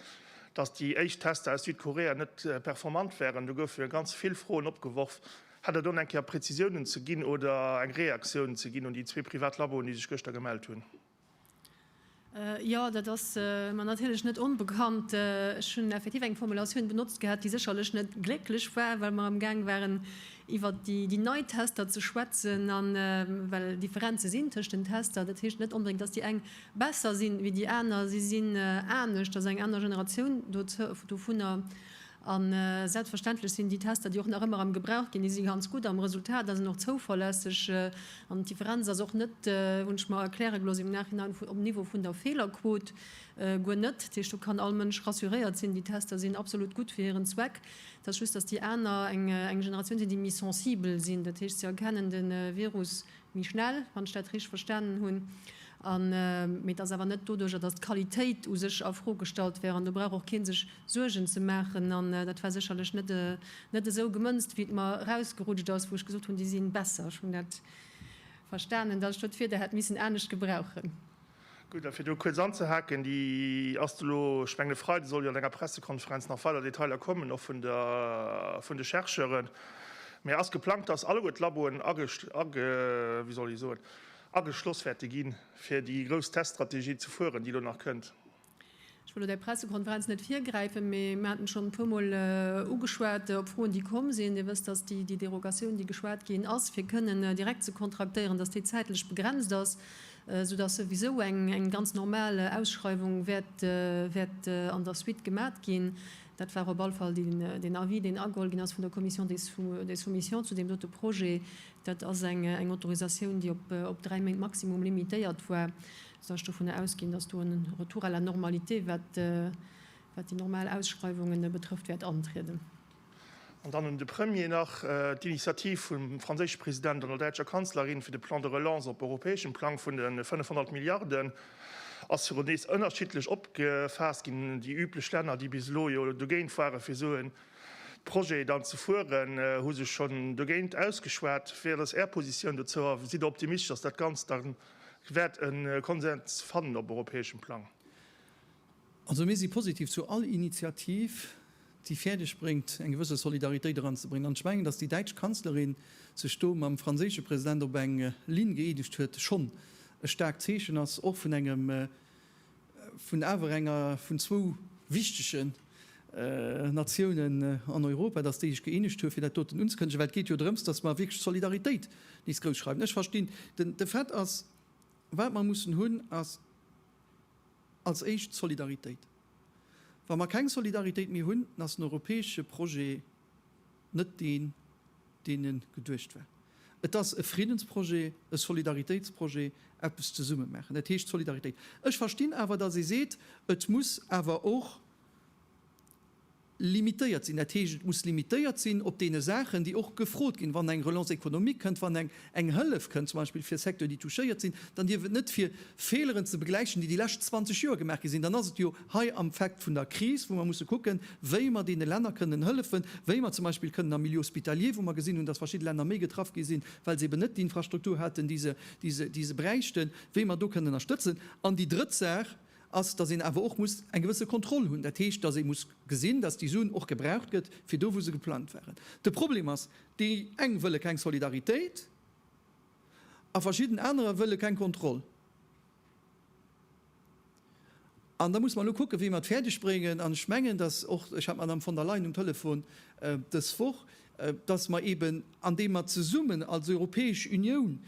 datt déi éischt Tester aus Südkorea net performant wären. Do goufe jo ganz vill Froen opgeworf. Hätt Der do nach eng Kéier Prezisiounen ze ginn oder eng Reaktioun ze ginn un déi zwee Privatlaboen, déi sech gëschter gemellt hunn? Jo, dat ass mer natierlech net onbekannt. Ech hunn effektiv eng Formulatioun benotzt gehat, déi sécherlech net glécklech war, well mer amgaang waren, iwwer déi nei Tester ze schwätzen, a well Differenze sinn tëschent den Tester. Dat heescht net onbedéngt, datt déi eng besser sinn ewéi déi aner. Si sinn anescht, et ass eng aner Generatioun dovunner. A selbstverständlech sinn déi Tester, déi och nach ëmmer am Gebrauch ginn, déi si ganz gutt am Resultat a sinn och zouverlässeg. An d'Differenz ass och net, hunn ech mer erkläre gelooss im Nachhinein, um Niveau vun der Feelerquot, guer net. Dat heescht, do kann all Mënsch rassuréiert sinn, déi Tester sinn absolut gutt fir hiren Zweck. Et ass just, dass déi aner eng Generatioun sinn, déi méi sensibel sinn. Dat heescht, se erkennen de Virus méi schnell, wann ech dat richteg verstanen hunn, an, mee dass awer net doduerjer, dass d'Qualitéit u sech a Fro gestallt wär, an do brauch och kee sech Suergen ze maachen, an dat war sécherlech net, net esou gemënzt, wéi et mer erausgerutscht ass, wou ech gesot hunn, déi si besser. Ech hunn dat verstanen, dass ech do d'Wierder hätt missen anescht gebrauchen. Gutt, a fir do kuerz anzehaken, déi ass elo, ech mengen e Freide soll jo an denger Pressekonferenz nach weider Detailer kommen, och vun der, vun de Chercheuren, mä ass geplangt, dass alleguer d'Laboen age, age, wéi soll ech soen, ageschloss wäerte ginn, fir déi grouss Teststrategie ze fueren, déi elo nach kënnt. Ech wëll lo däi Pressekonferenz net virgräifen, mee mir haten schonn e puer Mol ugeschwat op Froen, déi komm sinn. Dir wësst, dass déi Derogatioun, déi geschwat ginn ass, fir kënnen direkt ze kontraktéieren, dass déi zäitlech begrenzt ass, soudass souwisou eng ganz normal Ausschreiwung wäert an der Suite gemat ginn. Dat war op alle Fall den Avis, deen ageholl ginn ass vun der Commission des soumissions zu deem dote Projet. Dat ass eng Autorisatioun, déi op dräi Méint maximum limitéiert war. Soll ech dovun ausginn, dass do en Retour à la normalité, wat déi normal Ausschreiwungen betrëfft, wäert antrieden? An dann un de Premier nach d'Initiativ vum franséische President an der däitscher Kanzlerin fir de Plan de relance op europäeschem Plang vun de 500 Milliarden ass virun nees ënnerschiddlech opgefaasst ginn. Déi üblech Länner, déi bis elo jo dogéint waren, fir esou e Projet dann ze fueren, hu sech schonn dogéint ausgeschwat. Wéi ass Är Positioun dozou a sidd Der optimistesche, dass dat Ganzt dann wäert e Konsens fannen op europäeschem Plang. Also mir si positiv zu all Initiativ, déi fäerdeg bréngt, eng gewësse Solidaritéit eranzebréngen. An ech mengen, datt déi däitsch Kanzlerin sech do mam franséische President op eng Linn gëeenegt huet, schonn e staarkt Zeechen ass, och vun engem vun awer enger vun zwou wichtege Natiounen an Europa, datt déi sech gëeenegt hu fir dat doten unzekënnegen, well et geet jo drëms, datt mer wierklech d'Solidaritéit nees grouss schreiwen. Ech verstinn de Fait ass, wat mer mussen hunn, ass als éischt d'Solidaritéit. Wa mer keng Solidaritéit méi hunn, dann ass den europäesche Projet, net deen, deen e geduecht war. Et ass e Friddensprojet, e Solidaritéitsprojet, eppes zesumme maachen, dat heescht Solidaritéit. Ech verstinn awer, datt ee seet, et muss awer och limitéiert sinn, dat heescht, et muss limitéiert sinn op deene Saachen, déi och gefrot ginn, wann eng Relance économique kënnt, wann eng eng Hëllef kënnt, zum Beispill fir Secteuren, déi touchéiert sinn, dann dierf et net fir Fehleren ze begläichen, déi déi lescht 20 Joer gemaach gi sinn. Dann ass et jo hei am Fact vun der Kris, wou mer musse kucken, wéi mer deene Länner kënnen hëllefen, wéi mer zum Beispill kënnen am Milieu hospitalier, wou mer gesinn hunn, dass verschidde Länner méi getraff gi sinn, well se eben net déi Infrastruktur haten, déi se, déi se, déi se bräichten, wéi mer do kënnen ënnerstëtzen. An déi drëtt Saach ass, dass een awer och muss eng gewësse Kontroll hunn. Dat heescht, dass ee muss gesinn, dass déi Suen och gebraucht gëtt fir do, wou se geplangt waren. De Problem ass, Déi eng wëlle keng Solidaritéit a verschidden anerer wëlle keng Kontroll. An da muss mer elo kucken, wéi mer et fäerdeg bréngen, an ech mengen, dass och, ech hat d'Madame von der Leyen um Telefon dës Woch, dass mer eeben, andeem mer zesummen als Europäesch Unioun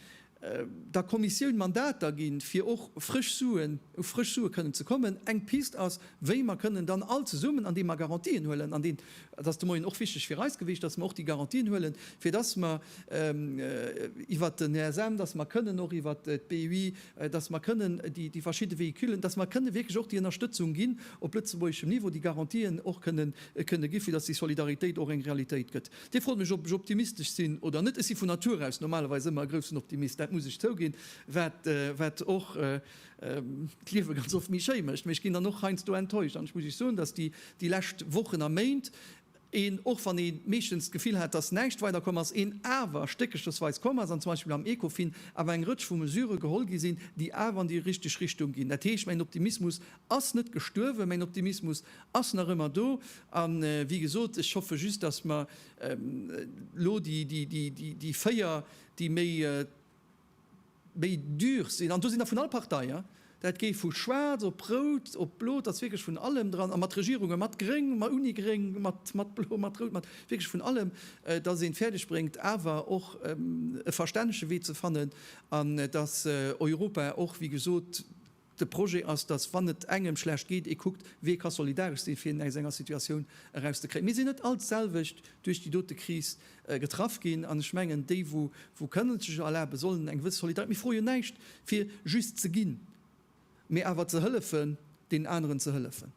der Kommissioun Mandater ginn, fir och frësch Suen, u frësch Sue kënnen ze kommen. Eng Pist ass, wéi mer kënnen dann all zesummen, andeem mer Garantien huelen, an deen, dat ass de Moien och wichteg fir eis gewiescht, dass mer och déi Garantien huelen, fir dass mer iwwert den ESM, dass mer kënnen och iwwert d'BUI, dass mer kënnen déi verschidde Véhiculen, dass mer kënnen wierklech och déi Ënnerstëtzung ginn op lëtzebuergeschem Niveau, déi Garantien och kënnen gi fir dass déi Solidaritéit och eng Realitéit gëtt. Dir frot mech, ob ech optimistesch sinn oder net. Ech si vun Natur aus normalerweis ëmmer e groussen Optimist, dat muss ech zouginn, wat wat och d'Liewe ganz oft méi schéi mécht. Mee ech ginn dann och heiansdo enttäuscht an ech muss Iech soen, dass déi déi lescht Wochen a Méint een, och wann ee meeschtens d'Gefill hat, dass näischt weiderkomm ass, een awer stéckerchesweis komm ass an zum Beispill am Ecofin awer eng Rëtsch vu Mesure geholl gi sinn, déi awer an déi richteg Richtung ginn. Dat heescht, mäin Optimismus ass net gestuerwen, mäin Optimismus Ass nach ëmmer do. A wéi gesot, ech hoffe just, dass mer elo déi véier, déi méi dur sinn, an do sinn der vun all Partei, dat géif vu schwaarz op rout op blo, et ass wierklech vun allem dran, a mat Regierunge mat gréng, uni gréng, mat blo, mat rout, mat wierklech vun allem, dass een et fäerdeg bréngt awer och e verstännege Wee ze fannen, an dass Europa och, wéi gesot, De Projet ass, datt, wann et engem schlecht geet, ee kuckt, wee ka solidaresch sinn, fir een aus enger Situatioun erauszekréien. Mir sinn net all d'selwecht duerch déi dote Kris getraff ginn, an ech mengen, déi, wou kënnen et sech erlaben, sollen eng gewësse Solidaritéit, mir froe jo näischt, fir just ze ginn, mä awer ze hëllefen, deenen aneren ze hëllefen.